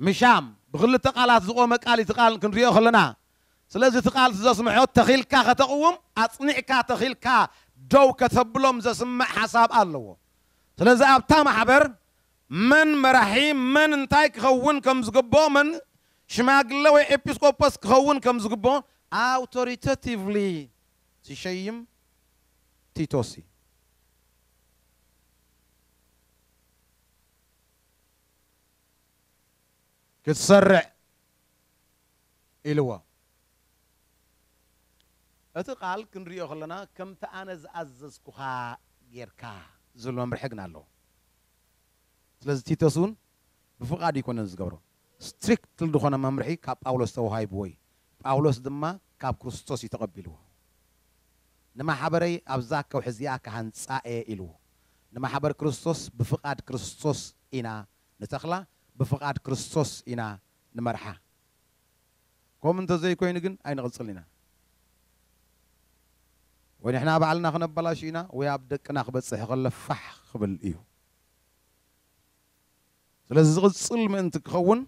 ምሻም ብክልተ ቃላት ዝቆመ ቃል እዩ እቲ ቃል ክንሪኦ ከለና ስለዚ እቲ ቃል እቲ ዘስምዖ ተኺልካ ከተቕውም ኣጽኒዕካ ተኺልካ ደው ከተብሎም ዘስምዕ ሓሳብ ኣለዎ ስለዚ ኣብታ ማሕበር መን መራሒ መን እንታይ ክኸውን ከም ዝግብኦ መን ሽማግለ ወይ ኤጲስቆጶስ ክኸውን ከም ዝግብኦ ኣውቶሪተቲቭሊ ዝሸይም ቲቶስ እዩ። ክትሰርዕ ኢልዎ። እቲ ቃል ክንሪኦ ከለና ከምቲ ኣነ ዝኣዘዝኩኻ ጌርካ ዝብል መምርሒ ግና ኣለዎ። ስለዚ ቲቶስ እውን ብፍቓድ ኣይኮነን ዝገብሮ። ስትሪክት ልድኾነ መምርሒ ካብ ጳውሎስ ተወሃይብዎ እዩ ጳውሎስ ድማ ካብ ክርስቶስ እዩ ተቐቢልዎ ንማሓበረይ ኣብዛ ከውሒ እዚኣ ክሃንጻ እየ ኢልዎ ንማሕበር ክርስቶስ ብፍቓድ ክርስቶስ ኢና ንተኽላ ብፍቓድ ክርስቶስ ኢና ንመርሓ ከምኡ እንተዘይኮይኑ ግን ኣይንቕጽልን ኢና ወይ ንሕና ባዕልና ክነበላሹ ኢና ወይ ኣብ ደቅና ክበጽሕ ከሎ ፋሕ ክብል እዩ። ስለዚ ዝቕጽል ምእንቲ ክኸውን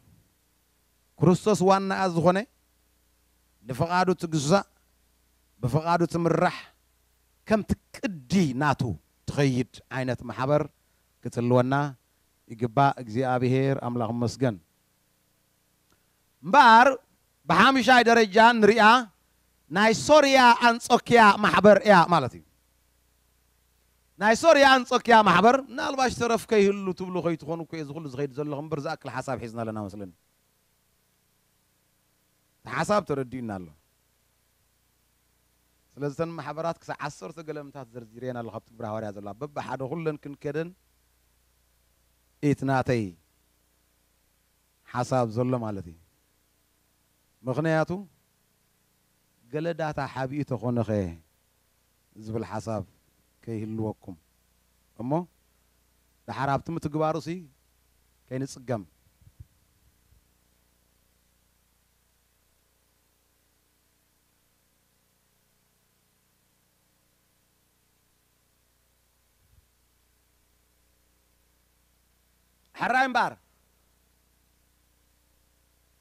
ክርስቶስ ዋናኣ ዝኾነ ንፍቓዱ ትግዛእ ብፍቓዱ ትምራሕ ከምቲ ቅዲ ናቱ ትኸይድ ዓይነት ማሕበር ክጽልወና ይግባእ እግዚኣብሔር ኣምላኽ ይመስገን። እምበኣር ብሓምሻይ ደረጃ እንሪኣ ናይ ሶርያ ኣንጾክያ ማሕበር እያ ማለት እዩ። ናይ ሶርያ ኣንጾክያ ማሕበር ምናልባሽ ተረፍ ከይህሉ ትብሉ ከይትኾኑ እኮ እየ እዚ ኩሉ ዝኸይድ ዘለኹ እምበር ዝኣክል ሓሳብ ሒዝና ኣለና መስለኒ። እቲ ሓሳብ ተረዲኡና ኣሎ። ስለዚ እተን ማሕበራት ክሳዕ ዓሰርተ ገለምታት ዘርዚረየን ኣለኹ ኣብቲ ግብረ ሃዋርያ ዘለዋ በብሓደ ኩለን ክንከደን ኢት ናተይ ሓሳብ ዘሎ ማለት እዩ ምኽንያቱ ገለ ዳታ ሓቢኡ ተኾነኸ ዝብል ሓሳብ ከይህልወኩም እሞ ዳሓር ኣብቲ ምትግባሩሲ ከይንጽገም። ሕራይ እምበኣር፣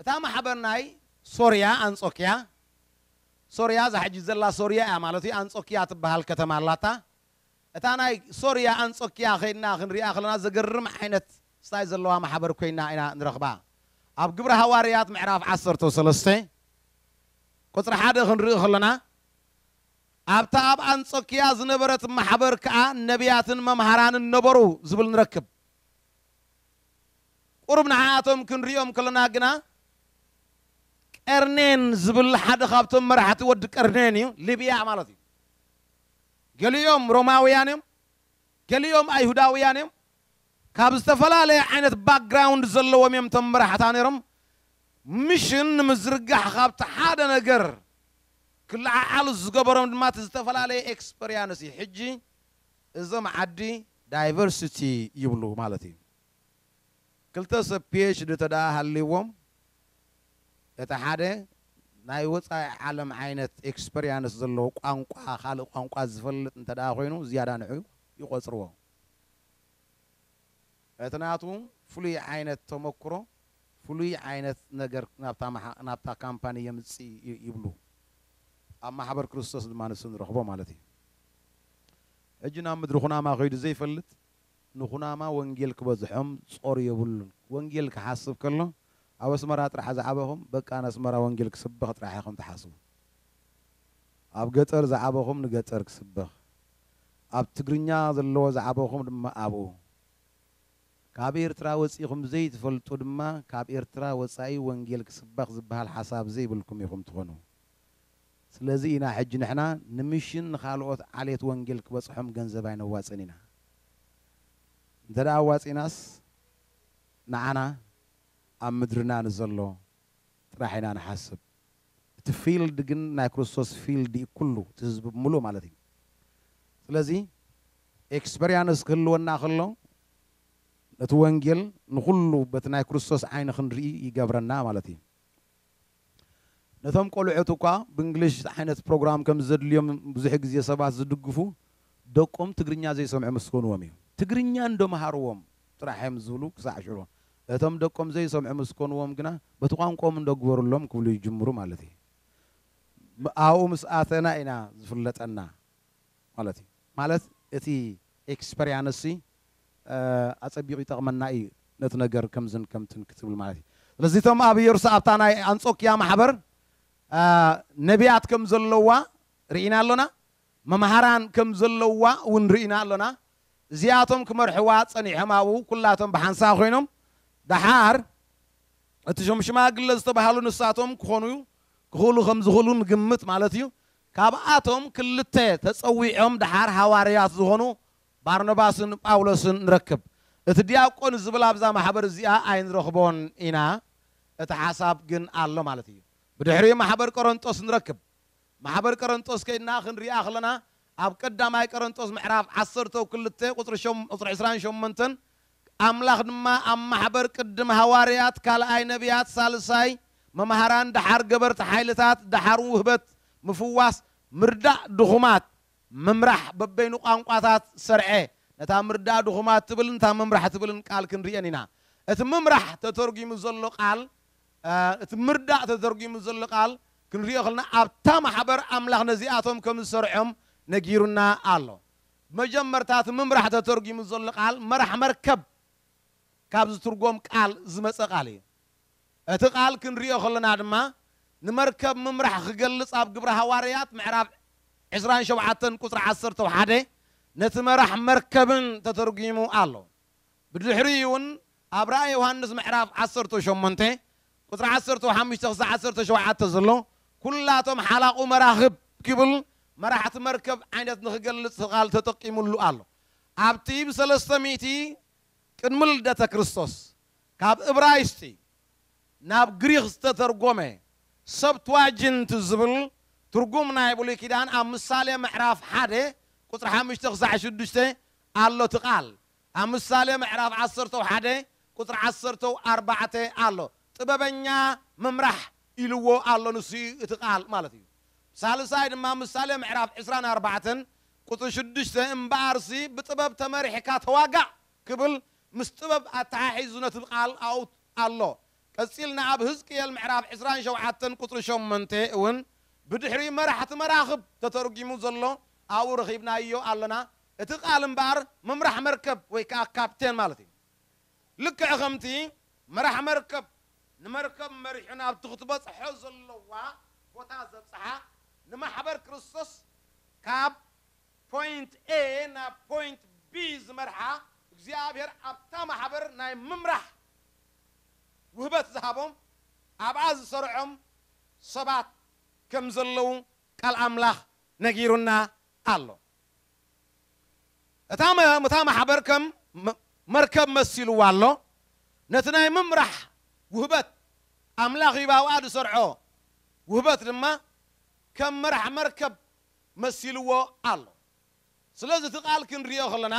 እታ ማሕበር ናይ ሶርያ፣ ኣንጾክያ፣ ሶርያ እዛ ሕጂ ዘላ ሶርያ እያ ማለት እዩ፣ ኣንጾክያ ትበሃል ከተማ ኣላታ፣ እታ ናይ ሶርያ፣ ኣንጾክያ፣ ከይድና ክንሪኣ ከለና ዘገርም ዓይነት ስታይ ዘለዋ ማሕበር ኮይና ኢና ንረኽባ። ኣብ ግብሪ ሃዋርያት ምዕራፍ ዓሰርተ ሰለስተ ቁጽሪ ሓደ ክንርኢ ከለና፣ ኣብታ ኣብ ኣንጾክያ ዝነበረት ማሕበር ከኣ ነብያትን መምሃራንን ነበሩ ዝብል ንረክብ። ቁሩብ ንዓኣቶም ክንሪኦም ከሎና ግና ቀርኔን ዝብል ሓደ ካብቶም መራሕቲ ወዲ ቀርኔን እዩ፣ ሊብያ ማለት እዩ። ገሊኦም ሮማውያን እዮም፣ ገሊኦም ኣይሁዳውያን እዮም፣ ካብ ዝተፈላለየ ዓይነት ባክግራውንድ ዘለዎም እዮም እቶም መራሕታ ነይሮም። ሚሽን ንምዝርጋሕ ካብቲ ሓደ ነገር ክለዓዓሉ ዝገበሮም ድማ እቲ ዝተፈላለየ ኤክስፐርያንስ እዩ። ሕጂ እዞም ዓዲ ዳይቨርሲቲ ይብሉ ማለት እዩ። ክልተ ሰብ ፒኤችዲ እንተድኣ ሃልይዎም እቲ ሓደ ናይ ወጻኢ ዓለም ዓይነት ኤክስፐርያንስ ዘለዎ ቋንቋ ካልእ ቋንቋ ዝፈልጥ እንተድኣ ኮይኑ ዝያዳ ንዑ ይቖጽርዎ። እቲ ናቱ ፍሉይ ዓይነት ተመኩሮ ፍሉይ ዓይነት ነገር ናብታ ካምፓኒ የምጽእ እዩ ይብሉ። ኣብ ማሕበር ክርስቶስ ድማ ንሱ ንረኽቦ ማለት እዩ። ሕጂ ናብ ምድሪ ኩናማ ከይዱ ዘይፈልጥ ንኩናማ ወንጌል ክበዝሖም ጾር የብሉን። ወንጌል ክሓስብ ከሎ ኣብ ኣስመራ ጥራሕ ዝዓበኹም በቃ ንኣስመራ ወንጌል ክስበኽ ጥራሕ ኢኹም ትሓስቡ። ኣብ ገጠር ዝዓበኹም ንገጠር ክስበኽ፣ ኣብ ትግርኛ ዘለዎ ዝዓበኹም ድማ ኣብኡ ካብ ኤርትራ ወጺኹም ዘይትፈልጡ ድማ ካብ ኤርትራ ወጻኢ ወንጌል ክስበኽ ዝብሃል ሓሳብ ዘይብልኩም ኢኹም ትኾኑ ስለዚ ኢና ሕጂ ንሕና ንምሽን ንኻልኦት ዓሌት ወንጌል ክበጽሖም ገንዘብ ኣይነዋጽእን ኢና እንተ ኣዋጺእናስ ንዓና ኣብ ምድርና ንዘሎ ጥራሕ ኢና ንሓስብ እቲ ፊልድ ግን ናይ ክርስቶስ ፊልድ እዩ ኩሉ እቲ ህዝቢ ብምሉእ ማለት እዩ ስለዚ ኤክስፐርያንስ ክህልወና ከሎ ነቲ ወንጌል ንኹሉ በቲ ናይ ክርስቶስ ዓይኒ ክንርኢ ይገብረና ማለት እዩ ነቶም ቆልዑት እኳ ብእንግሊሽ ዓይነት ፕሮግራም ከም ዘድልዮም ብዙሕ ግዜ ሰባት ዝድግፉ ደቆም ትግርኛ ዘይሰምዑ ምስ ኮንዎም እዩ ትግርኛ እንዶ ምሃርዎም ጥራሕ እዮም ዝብሉ ክሳዕ ሽዑ እቶም ደቆም ዘይሰምዑ ምስ ኮንዎም ግና በቲ ቋንቆኦም እንዶ ግበርሎም ክብሉ ይጅምሩ ማለት እዩ። ኣብኡ ምስ ኣተና ኢና ዝፍለጠና ማለት እዩ። ማለት እቲ ኤክስፐርያንስ ኣጸቢቑ ይጠቕመና እዩ ነቲ ነገር ከምዝን ከምትን ክትብል ማለት እዩ። ስለዚ እቶም ኣብ የሩሳ ኣብታ ናይ ኣንጾክያ ማሕበር ነብያት ከም ዘለዋ ርኢና ኣሎና። መምሃራን ከም ዘለዉዋ እውን ርኢና ኣሎና። እዚኣቶም ክመርሕዋ ጸኒሖም ኣብኡ ኩላቶም ብሓንሳእ ኮይኖም ደሓር እቲ እቶም ሽማግለ ዝተባህሉ ንሳቶም ክኾኑ ክኽእሉ ከም ዝኽእሉ ንግምት ማለት እዩ ካብኣቶም ክልተ ተጸዊዖም ደሓር ሃዋርያት ዝኾኑ ባርኖባስን ጳውሎስን ንረክብ እቲ ዲያቆን ዝብል ኣብዛ ማሕበር እዚኣ ኣይንረኽቦን ኢና እቲ ሓሳብ ግን ኣሎ ማለት እዩ ብድሕሪ ማሕበር ቆረንጦስ ንረክብ ማሕበር ቀረንጦስ ከይድና ክንሪኣ ከለና ኣብ ቀዳማይ ቀረንጦስ ምዕራፍ ዓሰርተው ክልተ ቁጽሪ ሸም ቁጽሪ ዕስራን ሸሞንተን ኣምላኽ ድማ ኣብ ማሕበር ቅድም ሃዋርያት ካልኣይ ነብያት ሳልሳይ መማህራን ደሓር ገበርቲ ሓይልታት ደሓር ውህበት ምፍዋስ ምርዳእ ድኹማት ምምራሕ በበይኑ ቋንቋታት ሰርዐ ነታ ምርዳእ ድኹማት ትብልን እታ ምምራሕ ትብልን ቃል ክንሪኤን ኢና እቲ ምምራሕ ተተርጉሙ ዘሎ ቃል እቲ ምርዳእ ተተርጒሙ ዘሎ ቃል ክንሪኦ ከለና ኣብታ ማሕበር ኣምላኽ ነዚኣቶም ከም ዝሰርዖም ነጊሩና ኣሎ። ብመጀመርታ እቲ ምምራሕ ተተርጒሙ ዘሎ ቃል መራሕ መርከብ ካብ ዝትርጎም ቃል ዝመጸ ቃል እዩ። እቲ ቃል ክንሪኦ ከለና ድማ ንመርከብ ምምራሕ ክገልጽ ኣብ ግብሪ ሃዋርያት ምዕራፍ ዕስራን ሸውዓተን ቁጽሪ ዓሰርተ ሓደ ነቲ መራሕ መርከብን ተተርጒሙ ኣሎ። ብድሕሪኡ እውን ኣብ ራእይ ዮሃንስ ምዕራፍ ዓሰርተ ሸሞንተ ቁጽሪ ዓሰርተ ሓሙሽተ ክሳዕ ዓሰርተ ሸውዓተ ዘሎ ኩላቶም ሓላቑ መራኽብ ኪብል መራሕቲ መርከብ ዓይነት ንኽገልጽ ቃል ተጠቂሙሉ ኣሎ። ኣብቲ ብሰለስተ ሚእቲ ቅድሚ ልደተ ክርስቶስ ካብ እብራይስጢ ናብ ግሪኽ ዝተተርጎመ ሰብትዋጅንት ዝብል ትርጉም ናይ ብሉይ ኪዳን ኣብ ምሳሌ ምዕራፍ ሓደ ቁጽሪ ሓሙሽተ ክሳዕ ሽዱሽተ ኣሎ እቲ ቃል ኣብ ምሳሌ ምዕራፍ ዓሰርተው ሓደ ቁጽሪ ዓሰርተው ኣርባዕተ ኣሎ ጥበበኛ ምምራሕ ኢልዎ ኣሎ ንሱ እዩ እቲ ቃል ማለት እዩ ሳልሳይ ድማ ኣብ ምሳሌ ምዕራፍ ዕስራን ኣርባዕተን ቁጽሪ ሽዱሽተ እምበኣርሲ ብጥበብ ተመሪሕካ ተዋጋእ ክብል ምስ ጥበብ ኣተሓሒዙ ነቲ ቃል ኣውት ኣሎ ቀጺልና ኣብ ህዝቅኤል ምዕራፍ ዕስራን ሸውዓተን ቁጽሪ ሸሞንተ እውን ብድሕሪ መራሕቲ መራኽብ ተተርጒሙ ዘሎ ኣብኡ ረኺብናዮ ኣለና እቲ ቃል እምበኣር ምምራሕ መርከብ ወይ ከኣ ካፕቴን ማለት እዩ። ልክዕ ከምቲ መራሕ መርከብ ንመርከብ መሪሑ ናብቲ ክትበጽሖ ዘለዋ ቦታ ዘብጽሓ፣ ንማሕበር ክርስቶስ ካብ ፖይንት A ናብ ፖይንት B ዝመርሓ፣ እግዚኣብሔር ኣብታ ማሕበር ናይ ምምራሕ ውህበት ዝሃቦም ኣብኣ ዝሰርዖም ሰባት ከምዘለዉ ቃል ኣምላኽ ነጊሩና ኣሎ። እታ እታ ማሕበር ከም መርከብ መሲልዋ ኣሎ፣ ነቲ ናይ ምምራሕ ውህበት፣ ኣምላኽ ኢዩ ኣብኣ ዝሰርዖ ውህበት ድማ ከም መራሕ መርከብ መሲልዎ ኣሎ። ስለዚ እቲ ቃል ክንርእዮ ከለና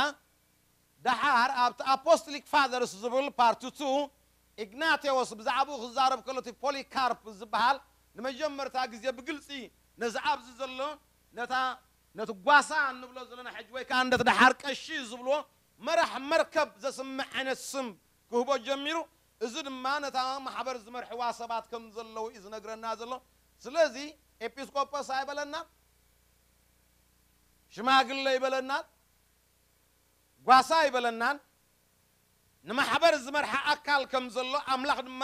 ደሓር ኣብቲ ኣፖስቶሊክ ፋዘርስ ዝብል ፓርት ቱ ኢግናቴዎስ ብዛዕብኡ ክዛረብ ከሎ እቲ ፖሊካርፕ ዝበሃል ንመጀመርታ ግዜ ብግልጺ ነዚ ኣብዚ ዘሎ ነታ ነቲ ጓሳ እንብሎ ዘለና ሕጂ ወይ ከኣ ነቲ ደሓር ቀሺ ዝብልዎ መራሕ መርከብ ዘስምዕ ዓይነት ስም ክህቦ ጀሚሩ። እዚ ድማ ነታ ማሕበር ዝመርሕዋ ሰባት ከም ዘለዉ እዩ ዝነግረና ዘሎ። ስለዚ ኤጲስቆጶስ ኣይበለናን፣ ሽማግለ ኣይበለናን፣ ጓሳ ኣይበለናን፣ ንማሕበር ዝመርሓ ኣካል ከም ዘሎ፣ ኣምላኽ ድማ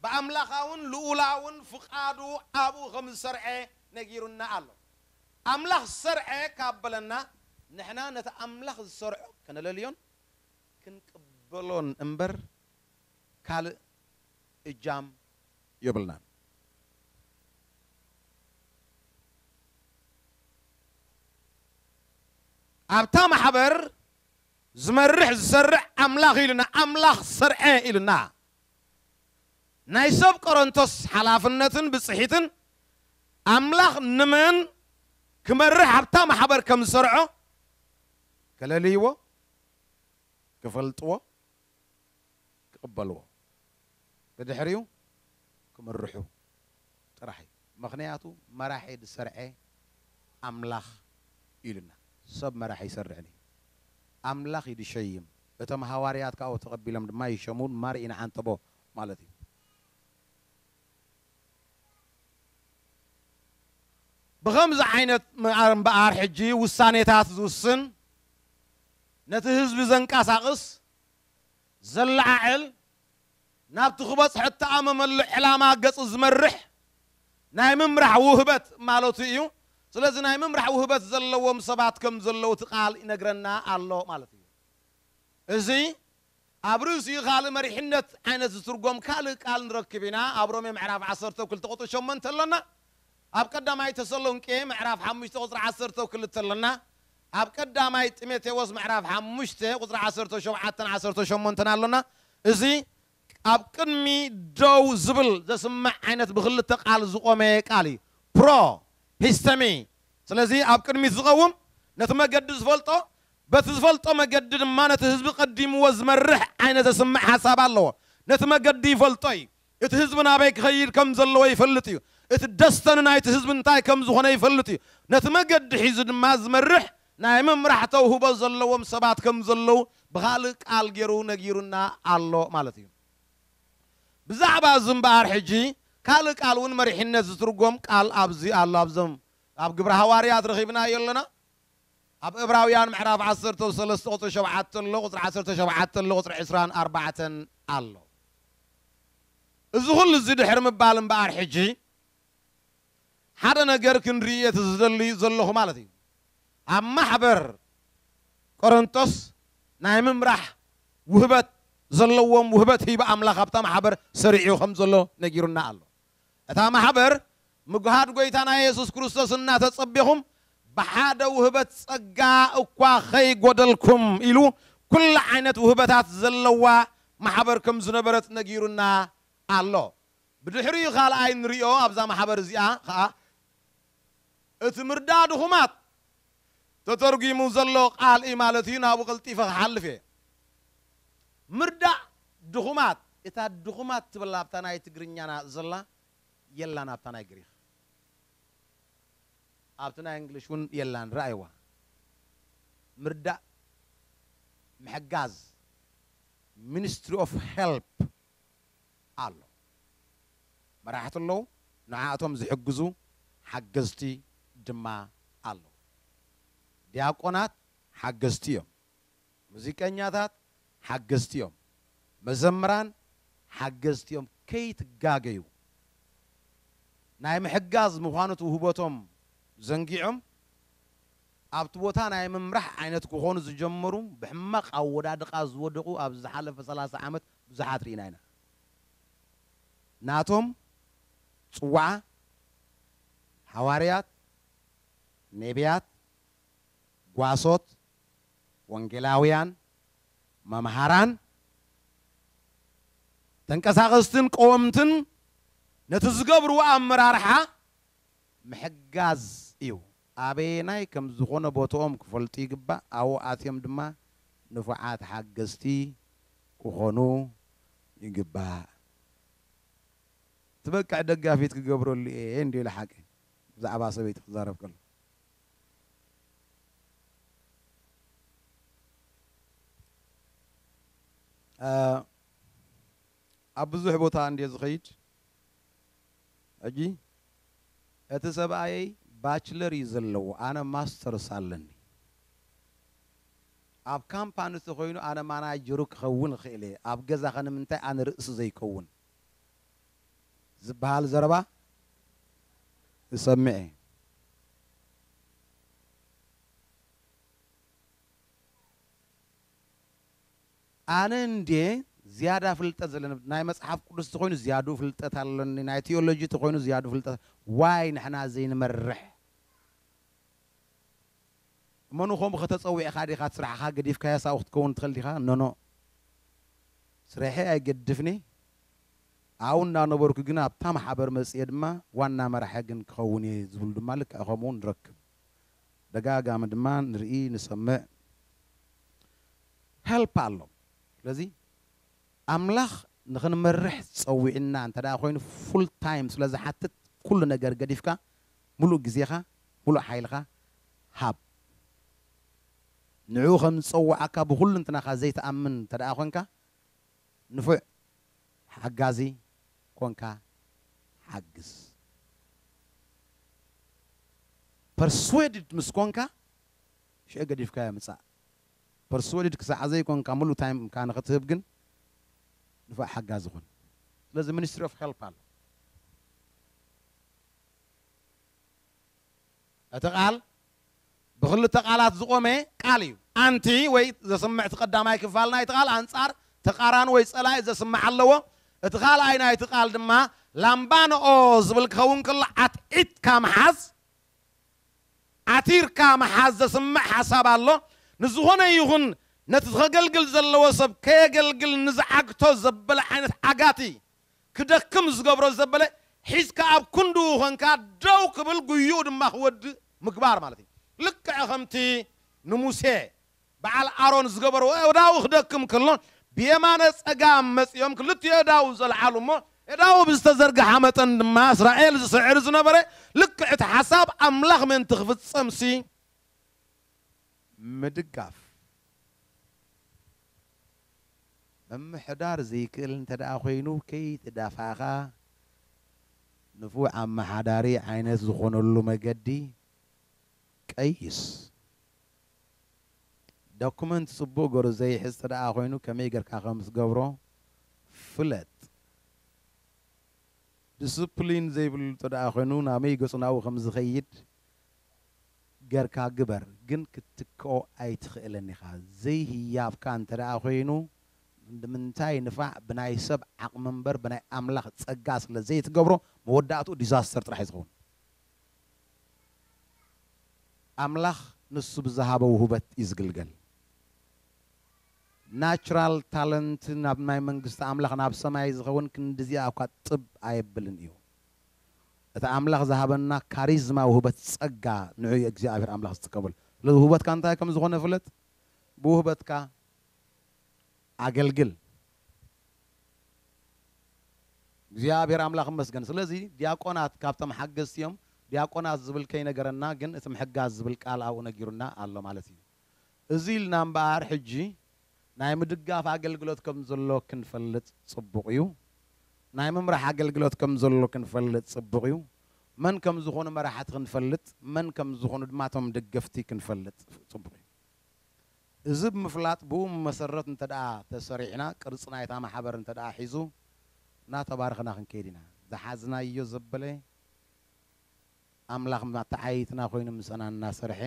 ብኣምላኻውን ልኡላውን ፍቓዱ ኣብኡ ከም ዝሰርዐ ነጊሩና ኣሎ። ኣምላኽ ሰርዐ ካብ በለና፣ ንሕና ነቲ ኣምላኽ ዝሰርዖ ከነለልዮን ክንቅበሎን እምበር ካልእ እጃም የብልናን። ኣብታ ማሕበር ዝመርሕ ዝሰርዕ ኣምላኽ ኢልና ኣምላኽ ሰርዐ ኢልና ናይ ሰብ ቆረንቶስ ሓላፍነትን ብጽሒትን ኣምላኽ ንመን ክመርሕ ኣብታ ማሕበር ከም ዝሰርዖ ከለልይዎ ክፈልጥዎ ክቅበልዎ። ብድሕሪኡ ክምርሑ ጥራሕ እዩ ምኽንያቱ መራሒ ድሰርዐ ኣምላኽ እዩ ኢሉና ሰብ መራሒ ኣይሰርዕን እዩ ኣምላኽ እዩ ድሸይም እቶም ሃዋርያት ካብኡ ተቀቢሎም ድማ ይሸሙ ማር ኢና ዓንተቦ ማለት እዩ ብኸምዚ ዓይነት ምኣር እምበኣር ሕጂ ውሳኔታት ዝውስን ነቲ ህዝቢ ዘንቃሳቅስ ዘለዓዕል ናብቲ ክበጽሖ እተኣመመሉ ዕላማ ገጹ ዝመርሕ ናይ ምምራሕ ውህበት ማለቱ ኢዩ። ስለዚ ናይ ምምራሕ ውህበት ዘለዎም ሰባት ከም ዘለዉ እቲ ቃል ይነግረና ኣሎ ማለት ኢዩ። እዚ ኣብ ርእሲኡ ካልእ መሪሕነት ዓይነት ዝትርጎም ካልእ ቃል ንረክብ ኢና። ኣብ ሮሜ ምዕራፍ ዓሰርተ ክልተ ቁጽሪ ሸሞንተ ኣሎና። ኣብ ቀዳማይ ተሰሎንቄ ምዕራፍ ሓሙሽተ ቁጽሪ ዓሰርተ ክልተ ኣሎና። ኣብ ቀዳማይ ጢሞቴዎስ ምዕራፍ ሓሙሽተ ቁጽሪ ዓሰርተ ሸውዓተን ዓሰርተ ሸሞንተን ኣሎና እዚ ኣብ ቅድሚ ደው ዝብል ዘስምዕ ዓይነት ብክልተ ቃል ዝቆመ ቃል እዩ ፕሮ ሂስተሚ ስለዚ ኣብ ቅድሚት ዝቀውም ነቲ መገዲ ዝፈልጦ በቲ ዝፈልጦ መገዲ ድማ ነቲ ህዝቢ ቀዲምዎ ዝመርሕ ዓይነት ዘስምዕ ሓሳብ ኣለዎ ነቲ መገዲ ይፈልጦ እዩ እቲ ህዝቢ ናበይ ክኸይድ ከም ዘለዎ ይፈልጥ እዩ። እቲ ደስተኒ ናይቲ ህዝቢ እንታይ ከም ዝኾነ ይፈልጥ እዩ። ነቲ መገዲ ሒዙ ድማ ዝመርሕ ናይ ምምራሕ ተውህቦ ዘለዎም ሰባት ከም ዘለዉ ብኻልእ ቃል ገይሩ ነጊሩና ኣሎ ማለት እዩ። ብዛዕባ እዚ እምበኣር ሕጂ ካልእ ቃል እውን መሪሕነት ዝትርጎም ቃል ኣብዚ ኣሎ። ኣብዞም ኣብ ግብረ ሃዋርያት ረኺብናዮ ኣለና። ኣብ እብራውያን ምዕራፍ ዓሰርተው ሰለስተ ቁጽሪ ሸውዓተ ኣሎ ቁጽሪ ዓሰርተ ሸውዓተ ኣሎ ቁጽሪ ዕስራን ኣርባዕተን ኣሎ እዚ ኩሉ እዚ ድሕሪ ምባል እምበኣር ሕጂ ሓደ ነገር ክንርኢ እቲ ዝደሊ ዘለኹ ማለት እዩ ኣብ ማሕበር ቆረንቶስ ናይ ምምራሕ ውህበት ዘለዎም ውህበት ህይቢ ኣምላኽ ኣብታ ማሕበር ሰሪዑ ከም ዘሎ ነጊሩና ኣሎ እታ ማሕበር ምጕሃድ ጐይታና የሱስ ክርስቶስ እናተጸቤኹም ብሓደ ውህበት ጸጋ እኳ ኸይጐደልኩም ኢሉ ኵሉ ዓይነት ውህበታት ዘለዋ ማሕበር ከም ዝነበረት ነጊሩና ኣሎ። ብድሕሪኡ ኻልኣይ እንርእዮ ኣብዛ ማሕበር እዚኣ ኸኣ እቲ ምርዳእ ድኹማት ተተርጒሙ ዘሎ ቃል እዩ ማለት እዩ፣ ናብኡ ቀልጢፈ ክሓልፍ እየ። ምርዳእ ድኹማት፣ እታ ድኹማት ትብል ኣብታ ናይ ትግርኛና ዘላ የላን ኣብታ ናይ ግሪኽ። ኣብቲ ናይ እንግሊሽ እውን የላን፣ ርኣይዋ። ምርዳእ ምሕጋዝ፣ ሚኒስትሪ ኦፍ ሄልፕ፣ ኣሎ መራሕቲ ኣለዉ ንዓኣቶም ዝሕግዙ ሓገዝቲ ድማ ኣለዉ ድያቆናት ሓገዝቲ እዮም ሙዚቀኛታት ሓገዝቲ እዮም መዘምራን ሓገዝቲ እዮም ከይትጋገዩ ናይ ምሕጋዝ ምኳኑ እቲ ውህበቶም ዘንጊዖም ኣብቲ ቦታ ናይ ምምራሕ ዓይነት ክኾኑ ዝጀመሩ ብሕማቕ ኣወዳድቓ ዝወደቑ ኣብዚ ዝሓለፈ ሰላሳ ዓመት ብዙሓት ርኢና ኢና ናቶም ጽውዓ ሃዋርያት ኔብያት ጓሶት ወንጌላውያን መምሃራን ተንቀሳቐስትን ቀወምትን ነቲ ዝገብርዎ ኣመራርሓ ምሕጋዝ እዩ። ኣበየናይ ከም ዝኾነ ቦትኦም ክፈልጡ ይግባእ፣ ኣብኡ ኣትዮም ድማ ንፉዓት ሓገዝቲ ክኾኑ ይግባእ። ትበቅዕ ደጋፊት ክገብረሉ እየ እንድዩ ልሓቂ ብዛዕባ ሰበይቲ ክዛረብ ከሎ። ኣብ ብዙሕ ቦታ እንድየ ዝኸይድ ሕጂ እቲ ሰብኣየይ ባችለር እዩ ዘለዎ ኣነ ማስተርስ ኣለኒ ኣብ ካምፓኒ ተኾይኑ ኣነ ማናጀሩ ክኸውን እኽእል እየ ኣብ ገዛኸ ንምንታይ ኣነ ርእሲ ዘይከውን ዝብሃል ዘረባ እሰምዕ እየ ኣነ እንድየ ዝያዳ ፍልጠት ዘለኒ ናይ መጽሓፍ ቅዱስ ተኮይኑ ዝያዱ ፍልጠት ኣሎኒ ናይ ቲዮሎጂ ተኮይኑ ዝያዱ ፍልጠት ዋይ ንሕና ዘይንመርሕ እመኑ ከምኡ ከ ተጸዊዕካ ዲካ እቲ ስራሕካ ገዲፍካዮስ ኣብኡ ክትከውን ትክእል ዲካ ኖኖ ስረሐይ ኣይገድፍኒ ኣብኡ እንዳነበርኩ ግን ኣብታ ማሕበር መጽየ ድማ ዋና መራሒ ግን ክከውን እየ ዝብሉ ድማ ልክዕ ከምኡ ንረክብ። ደጋጋሚ ድማ ንርኢ ንሰምዕ help ኣሎ ስለዚ ኣምላኽ ንኽንመርሕ ጸዊዕና እንተ ኮይኑ full time ስለ ዝሓትት ኩሉ ነገር ገዲፍካ ሙሉእ ግዜኻ ሙሉእ ሓይልኻ ሃብ ንዕኡ ከም ዝጸወዓካ ብኹልንትናኻ ዘይትኣምን እንተ ኮንካ ንፉዕ ሓጋዚ ኮንካ ሓግዝ። Persuaded ምስ ኮንካ ሽዑ ገዲፍካዮ ምጻእ። Persuaded ክሳዕ ዘይኮንካ ምሉእ ታይምካ ንኽትህብ ግን ንፉዕ ሓጋዚ ኩን። ስለዚ Ministry of Help ኣሎ። እቲ ቃል። ብኽልተ ቃላት ዝቖመ ቃል እዩ። ኣንቲ ወይ ዘስምዕ እቲ ቀዳማይ ክፋል ናይቲ ቃል ኣንጻር፣ ተቃራኒ ወይ ጸላኢ ዘስምዕ ኣለዎ። እቲ ካልኣይ ናይቲ ቃል ድማ ላምባንኦ ዝብል ክኸውን ከሎ ዓትዒትካ ምሓዝ፣ ዓቲርካ ምሓዝ ዘስምዕ ሓሳብ ኣሎ። ንዝኾነ ይኹን ነቲ ኸገልግል ዘለዎ ሰብ ከየገልግል ንዝዓግቶ ዘበለ ዓይነት ዓጋቲ ክደክም ዝገብሮ ዘበለ ሒዝካ ኣብ ክንድኡ ኮንካ ደው ክብል ጉይኡ ድማ ክወድእ ምግባር ማለት እዩ። ልክዕ ከምቲ ንሙሴ በዓል ኣሮን ዝገበርዎ ኣእዳዉ ክደክም ከሎ ብየማነ ጸጋም መጺኦም ክልቲኡ ኣእዳዉ ዘልዓሉ እሞ ኣእዳዉ ብዝተዘርግሓ መጠን ድማ እስራኤል ዝስዕር ዝነበረ ልክዕ እቲ ሓሳብ ኣምላኽ ምእንቲ ክፍጸምሲ ምድጋፍ ምምሕዳር ዝይክእል እንተድኣ ኮይኑ ከይትዳፋእካ ንፉዕ ኣመሓዳሪ ዓይነት ዝኾነሉ መገዲ ቀይስ። ዶኩመንት ፅቡቕ ገሩ ዘይሕዝ ተድኣ ኮይኑ ከመይ ገርካ ከምትገብሮ ፍለጥ። ድስፕሊን ዘይብሉ ተድኣ ኮይኑ ናበይ ገፁ ናብኡ ከምዝኸይድ ገርካ ግበር ግን ክትትክኦ ኣይትክእልን ኢካ ዘይ ህያብካ እንተ ኮይኑ ንምንታይ ንፋዕ ብናይ ሰብ ዓቅሚ እምበር ብናይ ኣምላክ ጸጋ ስለ ዘይትገብሮ መወዳእትኡ ዲዛስተር ጥራሕ እዩ ዝከውን ኣምላክ ንሱ ብዝሃቦ ውህበት እዩ ዝግልገል ናቹራል ታለንት ናብ ናይ መንግስቲ ኣምላክ ናብ ሰማይ ዝከውን ክንድዚኣ እኳ ጥብ ኣየብልን እዩ እቲ ኣምላኽ ዝሃበና ካሪዝማ ውህበት ጸጋ ንዑ እዩ እግዚኣብሄር ኣምላኽ ዝጥቀመሉ ስለዚ ውህበትካ እንታይ ከም ዝኾነ ፍለጥ ብውህበትካ ኣገልግል እግዚኣብሄር ኣምላኽ ይመስገን ስለዚ ዲያቆናት ካብቶም ሓገዝቲ እዮም ዲያቆናት ዝብል ከይነገረና ግን እቲ ምሕጋዝ ዝብል ቃል ኣብኡ ነጊሩና ኣሎ ማለት እዩ እዚ ኢልና እምበኣር ሕጂ ናይ ምድጋፍ ኣገልግሎት ከም ዘሎ ክንፈልጥ ጽቡቕ እዩ። ናይ ምምራሕ ኣገልግሎት ከም ዘሎ ክንፈልጥ ጽቡቕ እዩ። መን ከም ዝዀኑ መራሕቲ ክንፈልጥ፣ መን ከም ዝዀኑ ድማ እቶም ደገፍቲ ክንፈልጥ ጽቡቕ እዩ። እዚ ብምፍላጥ ብኡ መሰረት እንተድኣ ተሰሪዕና፣ ቅርጺ ናይታ ማሕበር እንተድኣ ሒዙ፣ እናተባረኽና ክንከይድ ኢና። ዝሓዝናዮ ዘበለ ኣምላኽ መተዓይይትና ኰይኑ ምሳና እናሰርሐ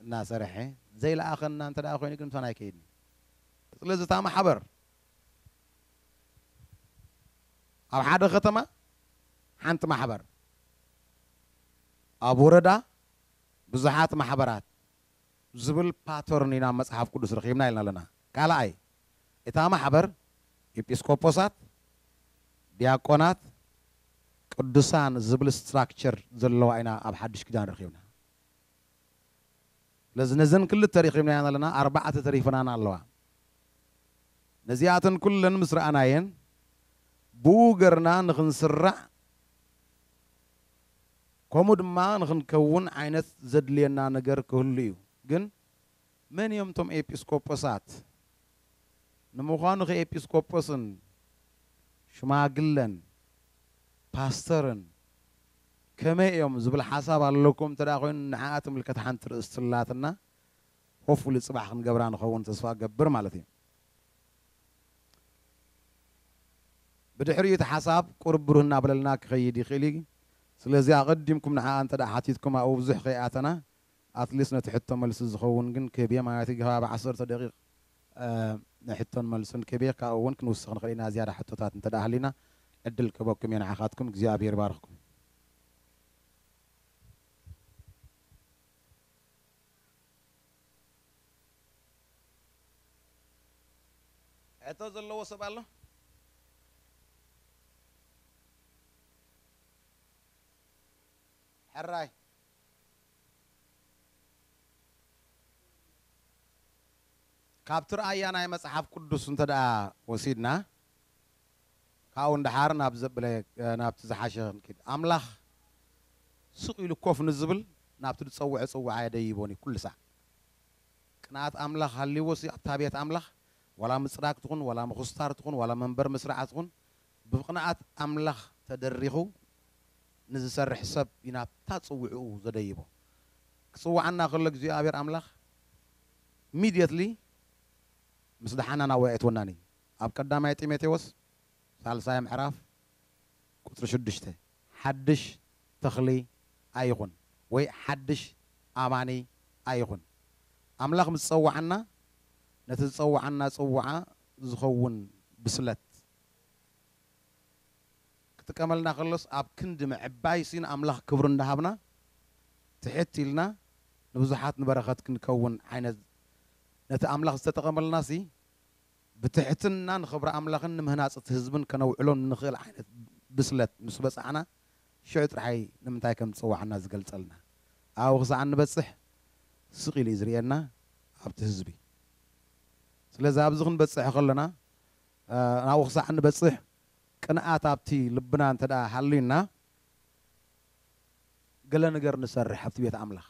እናሰርሐ ዘይለኣኸና እንተ ደኣ ኮይኑ ግን ምሳና ኣይከይድን እዩ። ስለዚ እታ ማሕበር ኣብ ሓደ ከተማ ሓንቲ ማሕበር፣ ኣብ ወረዳ ብዙሓት ማሕበራት ዝብል ፓተርን ኢና ኣብ መጽሓፍ ቅዱስ ረኺብና ኢልና ኣለና። ካልኣይ፣ እታ ማሕበር ኢጲስቆጶሳት፣ ዲያቆናት፣ ቅዱሳን ዝብል ስትራክቸር ዘለዋ ኢና ኣብ ሓዱሽ ኪዳን ረኺብና። ስለዚ ነዘን ክልተ ረኺብናየን ኣለና ኣርባዕተ ተሪፈናና ኣለዋ። ነዚኣተን ኩለን ምስ ረኣናየን ብኡ ገርና ንኽንስራዕ ከምኡ ድማ ንኽንከውን ዓይነት ዘድልየና ነገር ክህሉ እዩ። ግን መን እዮም እቶም ኤጲስቆጶሳት? ንምዃኑኸ ኤጲስቆጶስን ሽማግለን ፓስተርን ከመይ እዮም ዝብል ሓሳብ ኣለኩም እንተ ኮይኑ ንዕኣ ትምልከት ሓንቲ ርእስቲ ኣላትና ሆፍፉሊ ጽባሕ ክንገብራ ንኸውን ተስፋ እገብር ማለት እዩ። ብድሕሪኡ እቲ ሓሳብ ቁሩብ ብሩህ እናበለልና ክኸይድ ይኽእል እዩ። ስለዚ ኣቐዲምኩም ንዕኣ እንተ ሓቲትኩም ኣብኡ ብዙሕ ከይኣተና ኣትሊስት ነቲ ሕቶ መልሲ ዝኸውን ግን ክብዬ ማለት እዩ ከባቢ ዓሰርተ ደቂቅ ንሕቶን መልስን ክብዬ ካብኡ እውን ክንውስኽ ንኽእል ኢና ዝያዳ ሕቶታት እንተድኣ ሃልዩና ዕድል ክህበኩም እየ ንዓኻትኩም እግዚኣብሔር ይባርኽኩም። ሕቶ ዘለዎ ሰብ ኣሎ? ሕራይ። ካብቲ ርኣያ ናይ መጽሓፍ ቅዱስ እንተድኣ ወሲድና፣ ካብኡ ንደሓር ናብ ዘብለ ናብቲ ዝሓሸ ክንኪድ። ኣምላኽ ስቕ ኢሉ ኮፍ ንዝብል ናብቲ ዝጸውዐ ጽውዓ የደይቦን እዩ ኩሉ ሳዕ። ቅንኣት ኣምላኽ ሃልይዎሲ ኣብታ ቤት ኣምላኽ ዋላ ምጽራግ ትኹን ዋላ ምኹስታር ትኹን ዋላ መንበር ምስራዕ ትኹን ብቅንኣት ኣምላኽ ተደሪኹ ንዝሰርሕ ሰብ እዩ ናብታ ጽውዕኡ ዘደይቦ። ክጽውዓና ከሎ እግዚኣብሔር ኣምላኽ Immediately ምስ ደሓና ናብኡ ኣየእትወናን እዩ። ኣብ ቀዳማይ ጢሞቴዎስ ሳልሳይ ምዕራፍ ቁጽሪ ሽዱሽተ ሓድሽ ተኽሊ ኣይኹን ወይ ሓድሽ ኣማኒ ኣይኹን። ኣምላኽ ምስ ዝጸውዓና ነቲ ዝጸውዓና ጽውዓ ዝኸውን ብስለት ክጥቀመልና ከሎስ ኣብ ክንዲ ምዕባይሲ ንኣምላኽ ክብሪ እንዳሃብና ትሕት ኢልና ንብዙሓት ንበረኸት ክንከውን ዓይነት ነቲ ኣምላኽ ዝተጠቐመልናሲ ብትሕትና ንኽብሪ ኣምላኽን ንምህናጽ እቲ ህዝብን ከነውዕሎ እንኽእል ዓይነት ብስለት ምስ በጻሕና ሽዑ ጥራሕ'ዩ ንምንታይ ከም ዝጸውዓና ዝገልጸልና ኣብኡ ክሳዕ እንበጽሕ ስቕ ኢሉ'ዩ ዝርእየና ኣብቲ ህዝቢ ስለዚ ኣብዚ ክንበጽሕ ከሎና ናብኡ ክሳዕ እንበጽሕ ቅንኣት ኣብቲ ልብና እንተ ሃልዩና ገለ ነገር ንሰርሕ ኣብቲ ቤት ኣምላኽ።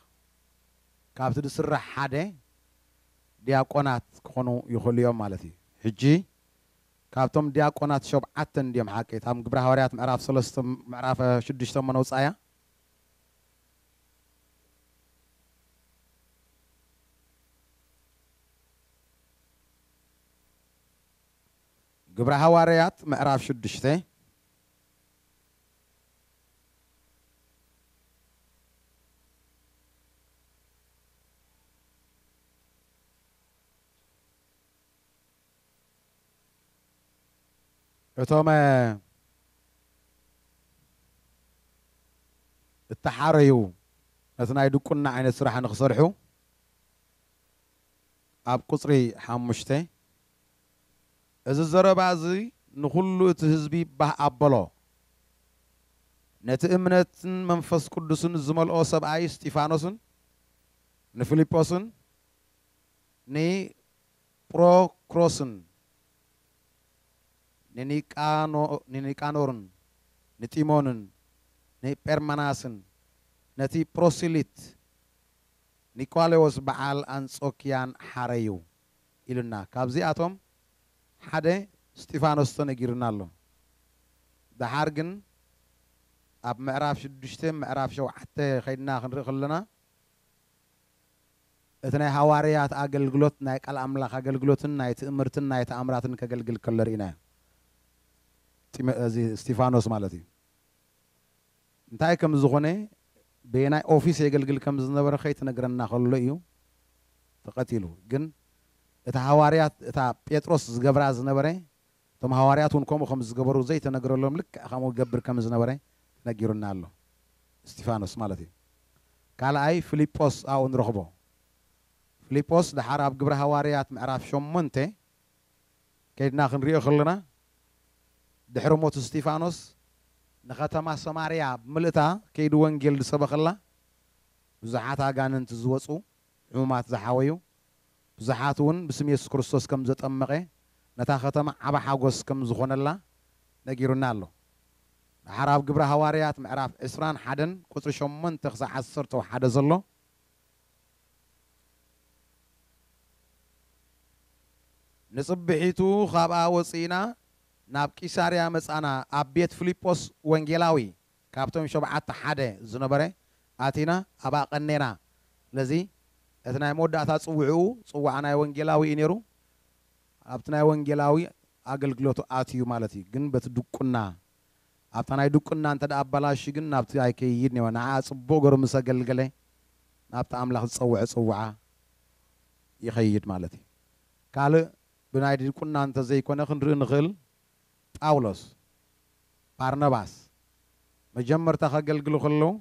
ካብቲ ዝስራሕ ሓደ ድያቆናት ክኾኑ ይኽእሉ እዮም ማለት እዩ። ሕጂ ካብቶም ድያቆናት ሾብዓተ እንድዮም ሓቂ እታ ግብሪ ሃዋርያት ምዕራፍ ሰለስተ ምዕራፍ ሽዱሽተ እሞ ነውጽኣያ። ግብረ ሃዋርያት ምዕራፍ ሽዱሽተ እቶም እተሓረዩ ነቲ ናይ ድቁና ዓይነት ስራሕ ንክሰርሑ ኣብ ቁጽሪ ሓሙሽተ፣ እዚ ዘረባ እዚ ንዅሉ እቲ ህዝቢ ባህ ኣበሎ። ነቲ እምነትን መንፈስ ቅዱስን ዝመልኦ ሰብኣይ እስጢፋኖስን ንፊልጶስን ንጵሮክሮስን ንኒቃኖርን ንጢሞንን ንጴርመናስን ነቲ ጵሮሲሊት ኒቆሌዎስ በዓል ኣንጾኪያን ሓረዩ ኢሉና ካብዚኣቶም ሓደ እስጢፋኖስ ተነጊሩና ኣሎ ደሓር ግን ኣብ ምዕራፍ ሽዱሽተ ምዕራፍ ሸውዓተ ከይድና ክንርኢ ከሎና እቲ ናይ ሃዋርያት ኣገልግሎት ናይ ቃል ኣምላኽ ኣገልግሎትን ናይ ትእምርትን ናይ ተኣምራትን ከገልግል ከሎ ርኢናዮ እዚ እስጢፋኖስ ማለት እዩ እንታይ ከም ዝኾነ በየናይ ኦፊስ የገልግል ከም ዝነበረ ከይተነግረና ከሎ እዩ ተቀቲሉ ግን እቲ ሃዋርያት እታ ጴጥሮስ ዝገብራ ዝነበረ እቶም ሃዋርያት እውን ከምኡ ከም ዝገበሩ ዘይተነግረሎም ልክዕ ከምኡ ይገብር ከም ዝነበረ ተነጊሩና ኣሎ እስጢፋኖስ ማለት እዩ ካልኣይ ፍሊጶስ ኣብኡ ንረኽቦ ፍሊጶስ ደሓር ኣብ ግብረ ሃዋርያት ምዕራፍ ሸሞንተ ከይድና ክንሪኦ ከሎና ድሕሪ ሞት እስጢፋኖስ ንኸተማ ሰማርያ ብምልእታ ከይዱ ወንጌል ዝሰበኸላ ብዙሓት ኣጋንንቲ ዝወጹ ሕሙማት ዝሓወዩ ብዙሓት ውን ብስም የሱስ ክርስቶስ ከም ዘጠመቐ ነታ ኸተማ ዓቢ ሓጎስ ከም ዝኾነላ ነጊሩና ኣሎ ደሓር ኣብ ግብሪ ሃዋርያት ምዕራፍ ዕስራን ሓደን ቁጽሪ ሸሞንተ ክሳዕ ዓሰርተው ሓደ ዘሎ ንጽብሒቱ ኻብኣ ወጺእና ናብ ቂሳርያ መጻእና፣ ኣብ ቤት ፍሊጶስ ወንጌላዊ ካብቶም ሾብዓተ ሓደ ዝነበረ ኣቲና ኣብኣ ቀኔና። ስለዚ እቲ ናይ መወዳእታ ጽውዕኡ ጽዋዕ ናይ ወንጌላዊ እዩ ነይሩ። ኣብቲ ናይ ወንጌላዊ ኣገልግሎቱ ኣትዩ ማለት እዩ፣ ግን በቲ ድቁና ኣብታ ናይ ድቁና እንተ ኣባላሽዩ ግን ናብቲ ኣይከይይድ ኔወ ንዓኣ ጽቡቅ ገሩ ምሰ ገልገለ ናብቲ ኣምላኽ ዝጸወዐ ጽውዓ ይኸይድ ማለት እዩ ካልእ ብናይ ድቁና እንተ ዘይኮነ ክንርኢ ንኽእል ጳውሎስ ባርነባስ መጀመርታ ከገልግሉ ከለዉ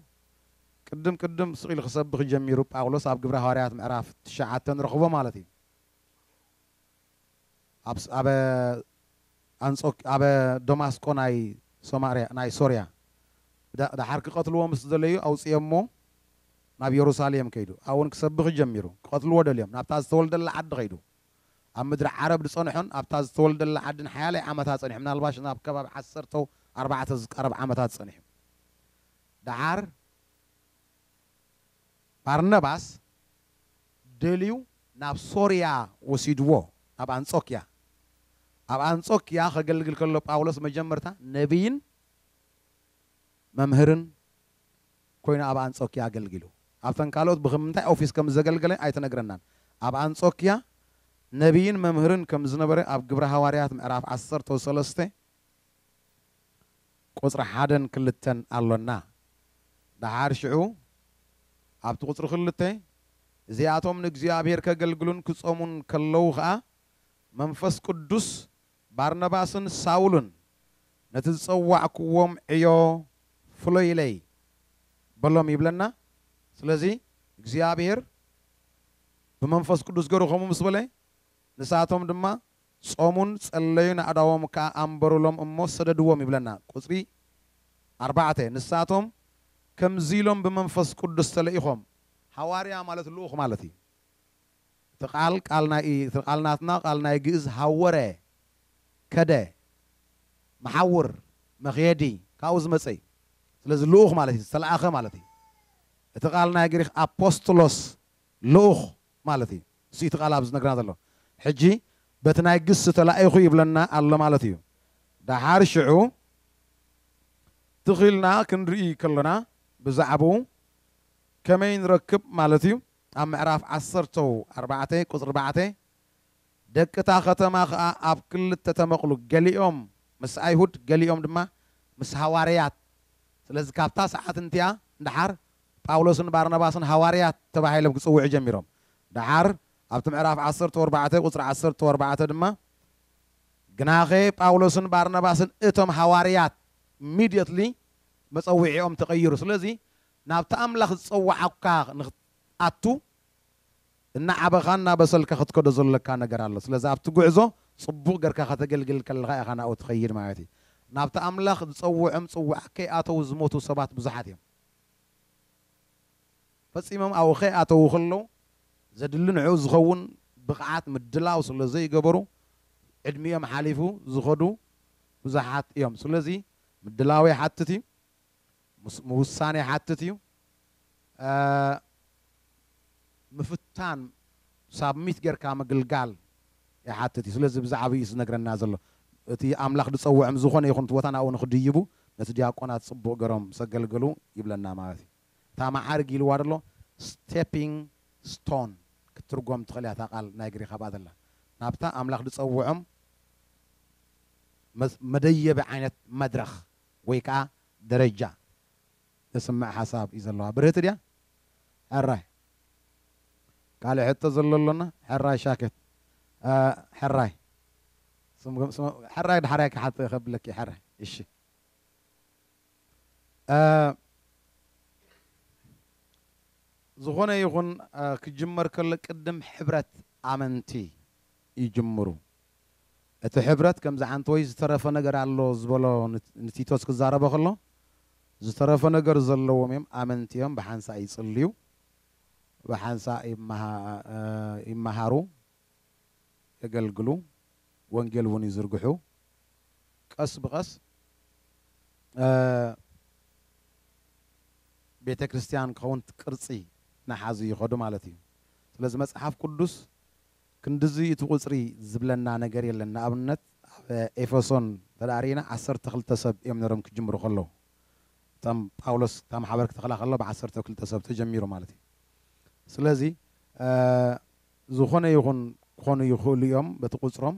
ቅድም ቅድም ስቅ ኢሉ ክሰብኽ ጀሚሩ ጳውሎስ ኣብ ግብረ ሃዋርያት ምዕራፍ ትሽዓተ ንረኽቦ ማለት እዩ። ኣብ ኣብ ኣንጾክ ኣብ ደማስቆ ናይ ሶማርያ ናይ ሶርያ ዳ ዳሓር ክቀትልዎ ምስ ደለዩ ኣውጺኦሞ ናብ የሩሳሌም ከይዱ ኣውን ክሰብኽ ጀሚሩ ክቀትልዎ ደልዮም ናብታ ዝተወልደላ ዓዲ ከይዱ ኣብ ምድሪ ዓረብ ድጸንሖን ኣብታ ዝተወልደላ ዓዲ ንሓያለይ ዓመታት ጸኒሑ ምናልባሽ ናብ ከባቢ ዓሰርተው ኣርባዕተ ዝቃረብ ዓመታት ጸኒሑ ዳሓር ባርነባስ ደልዩ ናብ ሶርያ ወሲድዎ፣ ናብ ኣንጾክያ። ኣብ ኣንጾክያ ኼገልግል ከሎ፣ ጳውሎስ መጀመርታ ነብይን መምህርን ኰይኑ ኣብ ኣንጾክያ ኣገልጊሉ። ኣብተን ካልኦት ብኸም እንታይ ኦፊስ ከም ዘገልገለ ኣይተነግረናን። ኣብ ኣንጾክያ ነብይን መምህርን ከም ዝነበረ ኣብ ግብሪ ሃዋርያት ምዕራፍ ዓሰርተው ሰለስተ ቁጽሪ ሓደን ክልተን ኣሎና። ደሓር ሽዑ ኣብቲ ቁጽሪ ክልተ፣ እዚኣቶም ንእግዚኣብሄር ከገልግሉን ክጾሙን ከለዉ ኸኣ፣ መንፈስ ቅዱስ ባርናባስን ሳውልን ነቲ ዝጸዋዕክዎም ዕዮ ፍሎይለይ በሎም ይብለና። ስለዚ እግዚኣብሄር ብመንፈስ ቅዱስ ገሩ ከምኡ ምስ በለ፣ ንሳቶም ድማ ጾሙን ጸለዩን ኣእዳዎም ከኣ ኣንበሩሎም እሞ ሰደድዎም ይብለና ቁጽሪ ኣርባዕተ ንሳቶም ከምዚ ኢሎም ብመንፈስ ቅዱስ ተለኢኾም ሃዋርያ ማለት ልኡኽ ማለት እዩ እቲ ቃል ቃል ናይ እቲ ቃል ናትና ቃል ናይ ግእዝ ሃወረ ከደ መሓውር መኽየዲ ካብኡ ዝመጸ እዩ ስለዚ ልኡኽ ማለት እዩ ዝተለኣኸ ማለት እዩ እቲ ቃል ናይ ግሪኽ ኣፖስጥሎስ ልኡኽ ማለት እዩ እሱ እቲ ቃል ኣብዚ ዝነግረና ዘሎ ሕጂ በቲ ናይ ግስ ተላኢኹ ይብለና ኣሎ ማለት እዩ ዳሓር ሽዑ ትኽ ኢልና ክንርኢ ከሎና ብዛዕብኡ ከመይ ንረክብ ማለት እዩ ኣብ ምዕራፍ ዓሰርተው ኣርባዕተ ቁጽሪ ኣርባዕተ ደቂ እታ ኸተማ ኸኣ ኣብ ክልተ ተመቕሉ ገሊኦም ምስ ኣይሁድ ገሊኦም ድማ ምስ ሃዋርያት ስለዚ ካብታ ሰዓት እንቲኣ ንዳሓር ጳውሎስን ባርናባስን ሃዋርያት ተባሂሎም ክጽውዑ ጀሚሮም። ደሓር ኣብቲ ምዕራፍ ዓሰርተው ኣርባዕተ ቁጽሪ ዓሰርተው ኣርባዕተ ድማ ግናኸ ጳውሎስን ባርናባስን እቶም ሃዋርያት immediately መጸውዒኦም ተቐይሩ። ስለዚ ናብቲ ኣምላኽ ዝጸውዓካ ንኽትኣቱ እናዓበኻን እናበሰልካ ክትከዶ ዘሎካ ነገር ኣሎ። ስለዚ ኣብቲ ጉዕዞ ጽቡቕ ገርካ ከተገልግል ከለኻ ኢኻ ናብኡ ትኸይድ ማለት እዩ። ናብቲ ኣምላኽ ዝጸውዖም ጽውዓ ከይኣተው ዝሞቱ ሰባት ብዙሓት እዮም። ፈጺሞም ኣብኡ ከይኣተዉ ከለዉ ዘድሊ ንዕኡ ዝኸውን ብቕዓት ምድላው ስለ ዘይገበሩ ዕድሚኦም ሓሊፉ ዝኸዱ ብዙሓት እዮም። ስለዚ ምድላው ይሓትት እዩ። ምውሳን ይሓትት እዩ። ምፍታን ሳብሚት ጌርካ ምግልጋል ይሓትት እዩ ስለዚ ብዛዕብኡ እዩ ዝነግረና ዘሎ እቲ ኣምላኽ ዝጸውዕም ዝኾነ ይኹን እቲ ቦታ ናብኡ ንኽድይቡ ነቲ ድያቆናት ጽቡቕ ገሮም ሰገልግሉ ይብለና ማለት እዩ እታ መዓርግ ኢልዋ ዘሎ Stepping Stone ክትትርጎም ትኽእል እያ እታ ቃል ናይ ግሪኽ ኣብኣ ዘላ ናብታ ኣምላኽ ዝጸውዖም መደየቢ ዓይነት መድረኽ ወይ ከኣ ደረጃ ተስምዕ ሓሳብ እዩ ዘለዋ ብርህቲ ድያ ሕራይ ካልእ ሕቶ ዘሎ ኣሎና ሕራይ ሻክት ሕራይ ሕራይ ድሓራይ ክሓት ከብለኪ ሕራይ እሺ ዝኾነ ይኹን ክጅመር ከሎ ቅድም ሕብረት ኣመንቲ ይጅምሩ። እቲ ሕብረት ከም ዝዓንተወይ ዝተረፈ ነገር ኣሎ ዝበሎ ንቲቶስ ክዛረቦ ከሎ ዝተረፈ ነገር ዘለዎም እዮም ኣመንቲ እዮም ብሓንሳእ ይጽልዩ ብሓንሳእ ይመሃሩ የገልግሉ ወንጌል እውን ይዝርግሑ ቀስ ብቀስ ቤተ ክርስቲያን ክኸውን ቅርጺ ናሓዙ ይኸዱ ማለት እዩ ስለዚ መጽሓፍ ቅዱስ ክንድዚ እቲ ቁጽሪ ዝብለና ነገር የለን ንኣብነት ኣብ ኤፈሶን እንተ ሪኢና ዓሰርተ ክልተ ሰብ እዮም ነሮም ክጅምሩ ከለው እቶም ጳውሎስ እታ ማሕበር ክተኽላ ከሎ ብዓሰርተ ክልተ ሰብ ተጀሚሩ ማለት እዩ ስለዚ ዝኾነ ይኹን ክኾኑ ይኽእሉ እዮም በቲ ቁጽሮም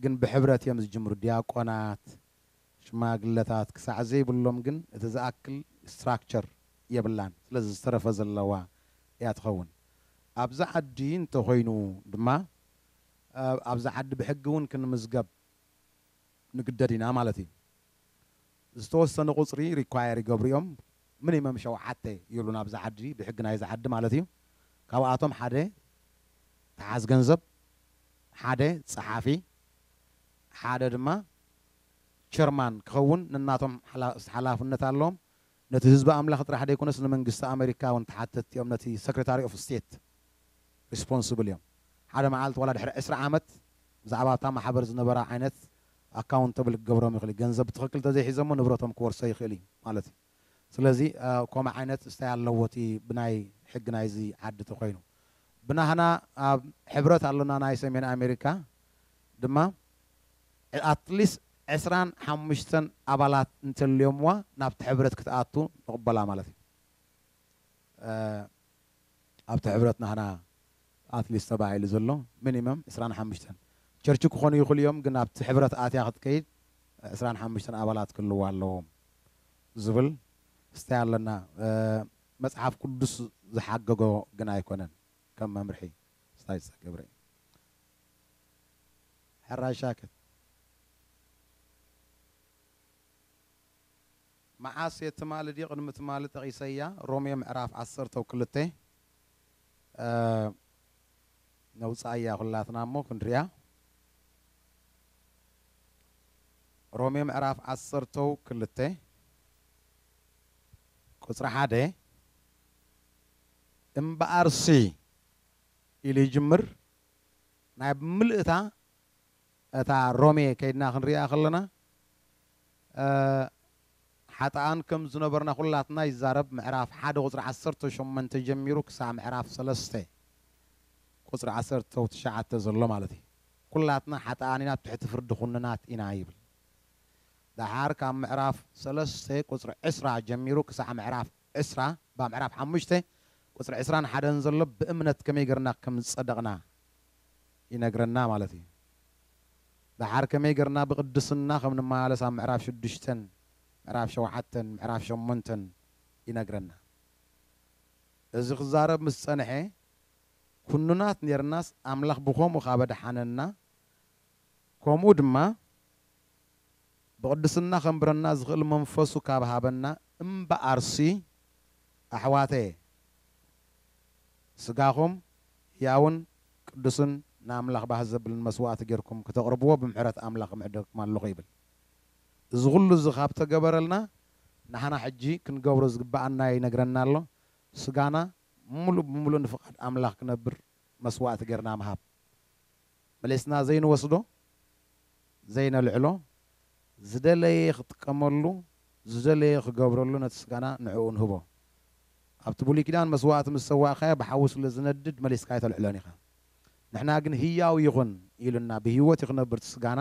ግን ብሕብረት እዮም ዝጅምሩ ድያቆናት ሽማግለታት ክሳዕ ዘይብሎም ግን እቲ ዝኣክል ስትራክቸር የብላን ስለዚ ዝተረፈ ዘለዋ እያ ትኸውን ኣብዚ ዓዲ እንተ ኮይኑ ድማ ኣብዚ ዓዲ ብሕጊ ውን ክንምዝገብ ንግደድ ኢና ማለት እዩ ዝተወሰነ ቁጽሪ ሪኳየር ይገብሩ እዮም ምኒመም ሸውዓተ ይብሉና ኣብዚ ዓዲ ብሕጊ ናይዚ ዓዲ ማለት እዩ ካብኣቶም ሓደ ተሓዝ ገንዘብ ሓደ ጸሓፊ ሓደ ድማ ቸርማን፣ ክኸውን ነናቶም ሓላፍነት ኣለዎም። ነቲ ህዝቢ ኣምላኽ ጥራሕ ደይኮነስ ንመንግስቲ ኣመሪካ እውን ተሓተትቲ እዮም። ነቲ ሰክሬታሪ ኦፍ ስቴት ሪስፖንስብል እዮም። ሓደ መዓልቲ ዋላ ድሕሪ ዕስራ ዓመት ብዛዕባ እታ ማሕበር ዝነበራ ዓይነት ኣካውንተብል ክገብሮም ይኽእል እዩ። ገንዘብ ብትኽክል ተዘይሒዘሞ ንብረቶም ክወርሶ ይኽእል እዩ ማለት እዩ። ስለዚ ኮምኡ ዓይነት ስታይ ኣለዎ እቲ ብናይ ሕጊ ናይዚ ዓዲ ተኮይኑ ብናህና ኣብ ሕብረት ኣሎና ናይ ሰሜን ኣሜሪካ ድማ ኣትሊስ ዕስራን ሓሙሽተን ኣባላት እንተልዮምዋ ናብቲ ሕብረት ክትኣቱ ንቅበላ ማለት እዩ። ኣብቲ ሕብረት ናህና ኣትሊስት ተባሂሉ ዘሎ ሚኒመም ዕስራን ሓሙሽተን ቸርች ክኾኑ ይኽሉ እዮም ግን ኣብቲ ሕብረት ኣትያ ክትከይድ ዕስራን ሓሙሽተን ኣባላት ክህልዋ ኣለዎም ዝብል ስታይ ኣለና መጽሓፍ ቅዱስ ዝሓገጎ ግን ኣይኮነን ከም መምርሒ ስታይ ዝተገብረ እዩ ሕራይ ሻክት መዓስ እየ ትማሊ ድዩ ቅድሚ ትማሊ ጠቒሰያ ሮሜ ምዕራፍ ዓሰርተ ብ ክልተ ነውጽኣያ ኩላትና እሞ ክንሪኣ ሮሜ ምዕራፍ ዓሰርተ ብ ክልተ ቁጽሪ ሓደ እምበኣርሲ ኢሉ ይጅምር ናይ ብምልእታ እታ ሮሜ ከይድና ክንሪኣ ከለና እእ ሓጥኣን ከም ዝነበርና ኩላትና ይዛረብ ምዕራፍ ሓደ ቁጽሪ ዓሰርተ ሸሞንተ ጀሚሩ ክሳዕ ምዕራፍ ሰለስተ ቁጽሪ ዓሰርተ ው ትሽዓተ ዘሎ ማለት እዩ ኩላትና ሓጥኣን ኢና ብ ትሕቲ ፍርዲ ኩንናት ኢና ይብል ደሓር ካብ ምዕራፍ ሰለስተ ቁጽሪ ዕስራ ጀሚሩ ክሳዕ ምዕራፍ ዕስራ እባ ምዕራፍ ሓሙሽተ ቁጽሪ ዕስራን ሓደን ዘሎ ብእምነት ከመይ ገርና ከም ዝጸደቅና ይነግረና ማለት እዩ ደሓር ከመይ ገርና ብቅድስና ከም ንመላለስ ኣብ ምዕራፍ ሽዱሽተን ምዕራፍ ሸውዓተን ምዕራፍ ሸሞንተን ይነግረና እዚ ክዛረብ ምስ ጸንሐ ኩኑናት ኔርናስ ኣምላኽ ብኮምኡ ካብ ኣድሓነና ኮምኡ ድማ ብቅድስና ከንብረና ዝኽእል መንፈሱ ካብ ሃበና እምበኣርሲ ኣሕዋተየ ስጋኹም ህያውን ቅዱስን ንኣምላኽ ባህ ዘብልን መስዋእቲ ጌርኩም ክተቅርብዎ ብምሕረት ኣምላኽ እምሕደገኩም ኣለኹ ይብል። እዚ ኹሉ እዚ ካብ ተገበረልና ንሓና ሕጂ ክንገብሮ ዝግበኣና ይነግረና ኣሎ ስጋና ምሉእ ብምሉእ ንፍቃድ ኣምላኽ ክነብር መስዋእቲ ጌርና ምሃብ። መሊስና ዘይንወስዶ ዘይነልዕሎ ዝደለየ ክጥቀመሉ ዝደለየ ክገብረሉ ነቲ ስጋና ንዕኡ ንህቦ ኣብቲ ብሉይ ኪዳን መስዋእቲ ምስ ሰዋእካዮ ብሓዊ ስለ ዝነድድ መሊስካ ኣይተልዕሎን ኢኻ ንሕና ግን ህያው ይኹን ኢሉና ብህይወት እዩ ክነብር እቲ ስጋና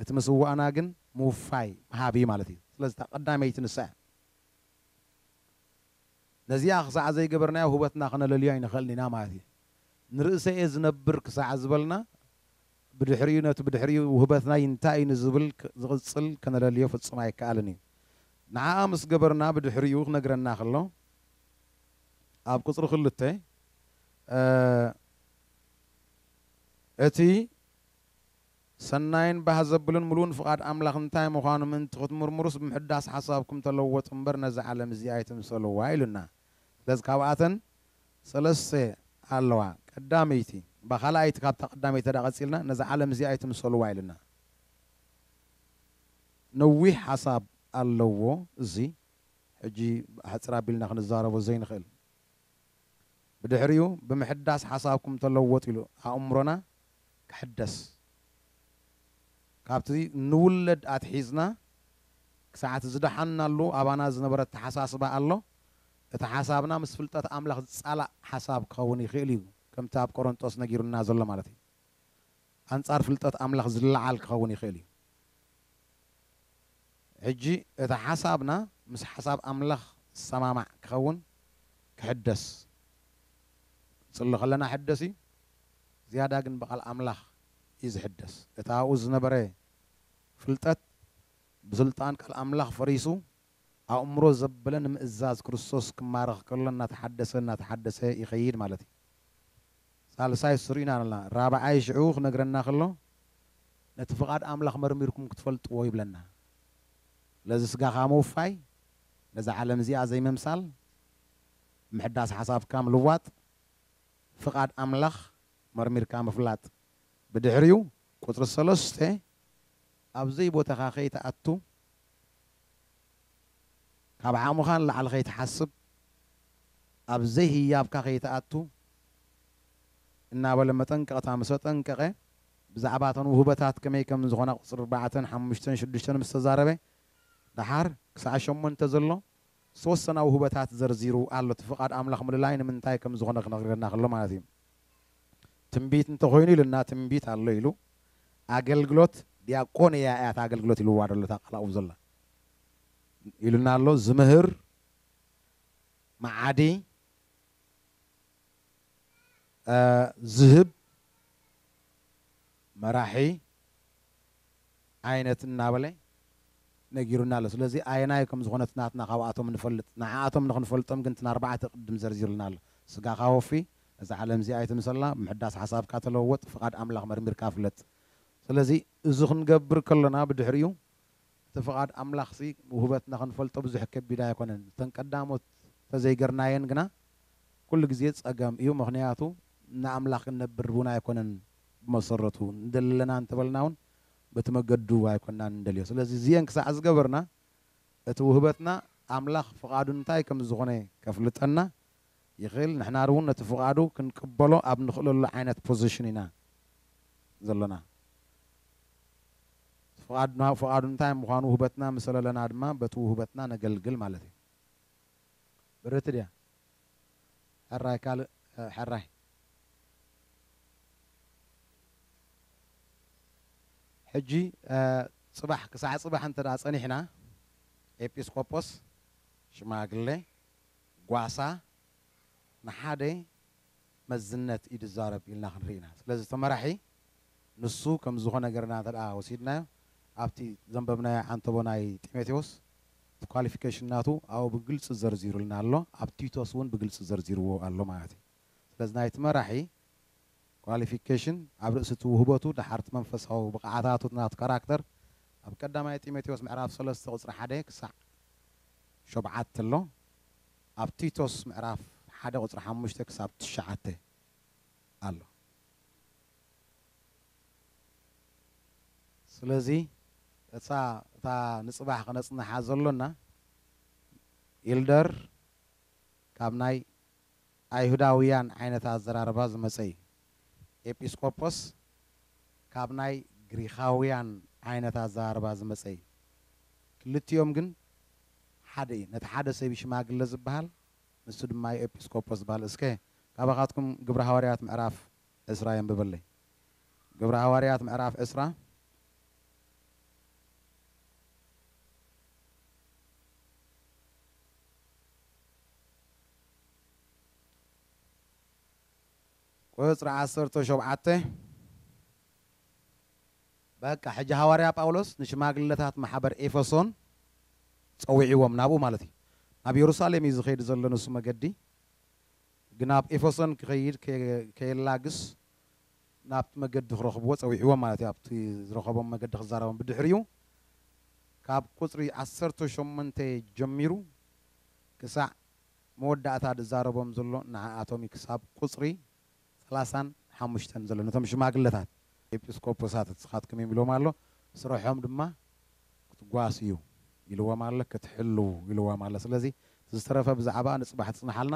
እቲ ምስዋእና ግን ምውፋይ ምሃብ እዩ ማለት እዩ ስለዚ እታ ቀዳመይቲ ንሳ እያ ነዚኣ ክሳዕ ዘይገበርናዮ ህይወትና ክነለልዮ ኣይንኽእልን ኢና ማለት እዩ። ንርእሰይ'የ ዝነብር ክሳዕ ዝበልና፣ ብድሕሪኡ ነቲ ብድሕሪኡ ውህበትናይ እንታይ'ዩ ንዝብል ዝቕጽል ከነለልዮ ፍጹም ኣይከኣልን'ዩ። ንዓኣ ምስ ገበርና ብድሕሪኡ ክነግረና ከሎ ኣብ ቁጽሪ ክልተ እቲ ሰናይን ባህ ዘብልን ምሉእን ፍቓድ ኣምላኽ እንታይ ምዃኑ ምእንቲ ክትምርምሩስ ብምሕዳስ ሓሳብኩም ተለወጡ'ምበር ነዛ ዓለም እዚኣ ኣይትምሰልዋ ኢሉና። ገጽ ካብኣተን ሰለስተ ኣለዋ ቀዳመይቲ እባ ካልኣይቲ ካብታ ቀዳመይቲ ተድኣ ቀጺልና ነዛ ዓለም እዚኣ ኣይትምሰልዋ ኢልና ነዊሕ ሓሳብ ኣለዎ እዚ ሕጂ ሕጽር ኣቢልና ክንዛረቦ ዘይንኽእል ብድሕሪኡ ብምሕዳስ ሓሳብኩም ተለወጡ ኢሉ ኣእምሮና ክሕደስ ካብቲ ንውለድ ኣትሒዝና ክሳዕቲ ዝደሓንናሉ ኣባና ዝነበረ ኣተሓሳስባ ኣሎ። እቲ ሓሳብና ምስ ፍልጠት ኣምላኽ ዝጻላእ ሓሳብ ክኸውን ይኽእል እዩ፣ ከምቲ ኣብ ቆረንጦስ ነጊሩና ዘሎ ማለት እዩ። ኣንጻር ፍልጠት ኣምላኽ ዝለዓል ክኸውን ይኽእል እዩ። ሕጂ እቲ ሓሳብና ምስ ሓሳብ ኣምላኽ ዝሰማማዕ ክኸውን ክሕደስ ክንጽሊ ከለና ሕደስ እዩ ዝያዳ ግን ብቃል ኣምላኽ እዩ ዝሕደስ እቲ ኣብኡ ዝነበረ ፍልጠት ብስልጣን ቃል ኣምላኽ ፈሪሱ ኣእምሮ ዘበለ ንምእዛዝ ክርስቶስ ክማረኽ ከሎ እናተሓደሰ እናተሓደሰ ይኸይድ ማለት እዩ። ሳልሳይ ስሩ ኢና ኣሎና። ራብዓይ ሽዑ ክነግረና ከሎ ነቲ ፍቓድ ኣምላኽ መርሚርኩም ክትፈልጥዎ ይብለና። ስለዚ ስጋኻ ምውፋይ፣ ነዛ ዓለም እዚኣ ዘይምምሳል፣ ምሕዳስ ሓሳብካ ምልዋጥ፣ ፍቓድ ኣምላኽ መርሚርካ ምፍላጥ፣ ብድሕሪኡ ቁጽሪ ሰለስተ ኣብ ዘይቦታኻ ከይትኣቱ፣ ካብ ዓቕምኻ ንላዕሊ ከይትሓስብ፣ ኣብ ዘይህያብካ ከይትኣቱ እናበለ መጠንቀቕታ ምስ ኣጠንቀቐ፣ ብዛዕባ እተን ውህበታት ከመይ ከም ዝኾና ቁጽሪ ኣርባዕተን ሓሙሽተን ሽዱሽተን ምስ ተዛረበ፣ ደሓር ክሳዕ ሸሞንተ ዘሎ ዝተወሰና ውህበታት ዘርዚሩ ኣሎ እቲ ፍቃድ ኣምላኽ ምልላይ ንምንታይ ከም ዝኾነ ክነግረና ከሎ ማለት እዩ ትንቢት እንተ ኾይኑ ኢሉና ትንቢት ኣሎ ኢሉ ኣገልግሎት ዲያቆንያ እያ እታ ኣገልግሎት ኢልዋ ዘሎ እታ ቃል ኣብኡ ዘላ ኢሉና ኣሎ ዝምህር መዓዲ ዝህብ መራሒ ዓይነት እናበለ ነጊሩና ኣሎ። ስለዚ ኣየናይ ከም ዝኾነ እቲ ናትና ካብኣቶም ንፈልጥ። ንዓኣቶም ንኽንፈልጦም ግን እተን ኣርባዕተ ቅድም ዘርዚሩልና ኣሎ። ስጋኻ ወፊ፣ እዛ ዓለም እዚኣ ኣይትምሰላ፣ ምሕዳስ ሓሳብካ ተለወጥ፣ ፍቓድ ኣምላኽ መርሚርካ ፍለጥ። ስለዚ እዚ ክንገብር ከሎና ብድሕሪኡ እቲ ፍቓድ ኣምላኽሲ ውህበትና ክንፈልጦ ብዙሕ ከቢድ ኣይኮነን እተን ቀዳሞት ተዘይገርናየን ግና ኩሉ ግዜ ጸገም እዩ ምኽንያቱ ንኣምላኽ ክንነብር ውን ኣይኮነን ብመሰረቱ ንደሊ ኣለና እንተበልና ውን በቲ መገዱ ኣይኮናን ንደልዮ ስለዚ እዚኤን ክሳዕ ዝገበርና እቲ ውህበትና ኣምላኽ ፍቓዱ እንታይ ከምዝኾነ ከፍልጠና ይኽእል ንሕና ርውን ነቲ ፍቓዱ ክንቅበሎ ኣብ ንኽእለሉ ዓይነት ፖዚሽን ኢና ዘሎና ፍቓድና ፍቓዱ እንታይ ምዃኑ ውህበትና ምስ ለለና ድማ በቲ ውህበትና ነገልግል ማለት እዩ ብርት ድያ ሕራይ ካልእ ሕራይ ሕጂ ጽባሕ ክሳዕ ጽባሕ እንተ ጸኒሕና ኤጲስቆጶስ ሽማግሌ ጓሳ ንሓደ መዝነት እዩ ዝዛረብ ኢልና ክንርኢ ኢና። ስለዚ እቲ መራሒ ንሱ ከም ዝኾነ ገርና እንተ ወሲድናዮ ኣብቲ ዘንበብናዮ ዓንተቦ ናይ ጢሞቴዎስ እቲ ኳሊፊኬሽን ናቱ ኣብኡ ብግልጺ ዘርዚሩልና ኣሎ፣ ኣብ ቲቶስ እውን ብግልጺ ዘርዚርዎ ኣሎ ማለት እዩ። ስለዚ ናይቲ መራሒ Qualification፣ ኣብ ርእሲ እቲ ውህበቱ፣ ደሓር እቲ መንፈሳዊ ብቕዓታቱ፣ እቲ ናቱ Character፣ ኣብ ቀዳማይ ጢሞቴዎስ ምዕራፍ ሰለስተ ቁጽሪ ሓደ ክሳዕ ሾብዓተ ኣሎ። ኣብ ቲቶስ ምዕራፍ ሓደ ቁጽሪ ሓሙሽተ ክሳብ ትሽዓተ ኣሎ። ስለዚ እታ እታ ንጽባሕ ከነጽንሓ ዘሎና Elder ካብ ናይ ኣይሁዳውያን ዓይነት ኣዘራርባ ዝመጸ እዩ። ኤጲስቆጶስ ካብ ናይ ግሪኻውያን ዓይነት ኣዘራርባ ዝመጸ እዩ። ክልቲኦም ግን ሓደ እዩ። ነቲ ሓደ ሰብ እዩ ሽማግለ ዝበሃል፣ ንሱ ድማ እዩ ኤጲስቆጶስ ዝበሃል። እስከ ካባኻትኩም ግብሪ ሃዋርያት ምዕራፍ ዕስራ የንብበለይ። ግብሪ ሃዋርያት ምዕራፍ ዕስራ። ቍጽሪ ዓሰርተ ሾብዓተ፣ በቃ ሕጂ ሃዋርያ ጳውሎስ ንሽማግለታት ማሕበር ኤፈሶን ጸዊዕዎም ናብኡ ማለት እዩ። ናብ የሩሳሌም እዩ ዝኸይድ ዘሎ ንሱ መገዲ ግን ናብ ኤፈሶን ክኸይድ ከየላግስ ናብቲ መገዲ ክረኽብዎ ጸዊዕዎም ማለት እዩ ኣብቲ ዝረኸቦም መገዲ ክዛረቦም ብድሕሪኡ ካብ ቍጽሪ ዓሰርተ ሸሞንተ ጀሚሩ ክሳዕ መወዳእታ ድዛረቦም ዘሎ ንዓኣቶምዩ ክሳብ ቁጽሪ ሰላሳን ሓሙሽተን ዘሎ ነቶም ሽማግለታት ኤጲስቆጶሳት እስኻትኩም ኢዩ ኢልዎም ኣሎ ስርሖም ድማ ክትጓስዩ ኢልዎም ኣሎ ክትሕልዉ ኢልዎም ኣሎ ስለዚ እቲ ዝተረፈ ብዛዕባኣ ንጽባሕ ትጽናሓልና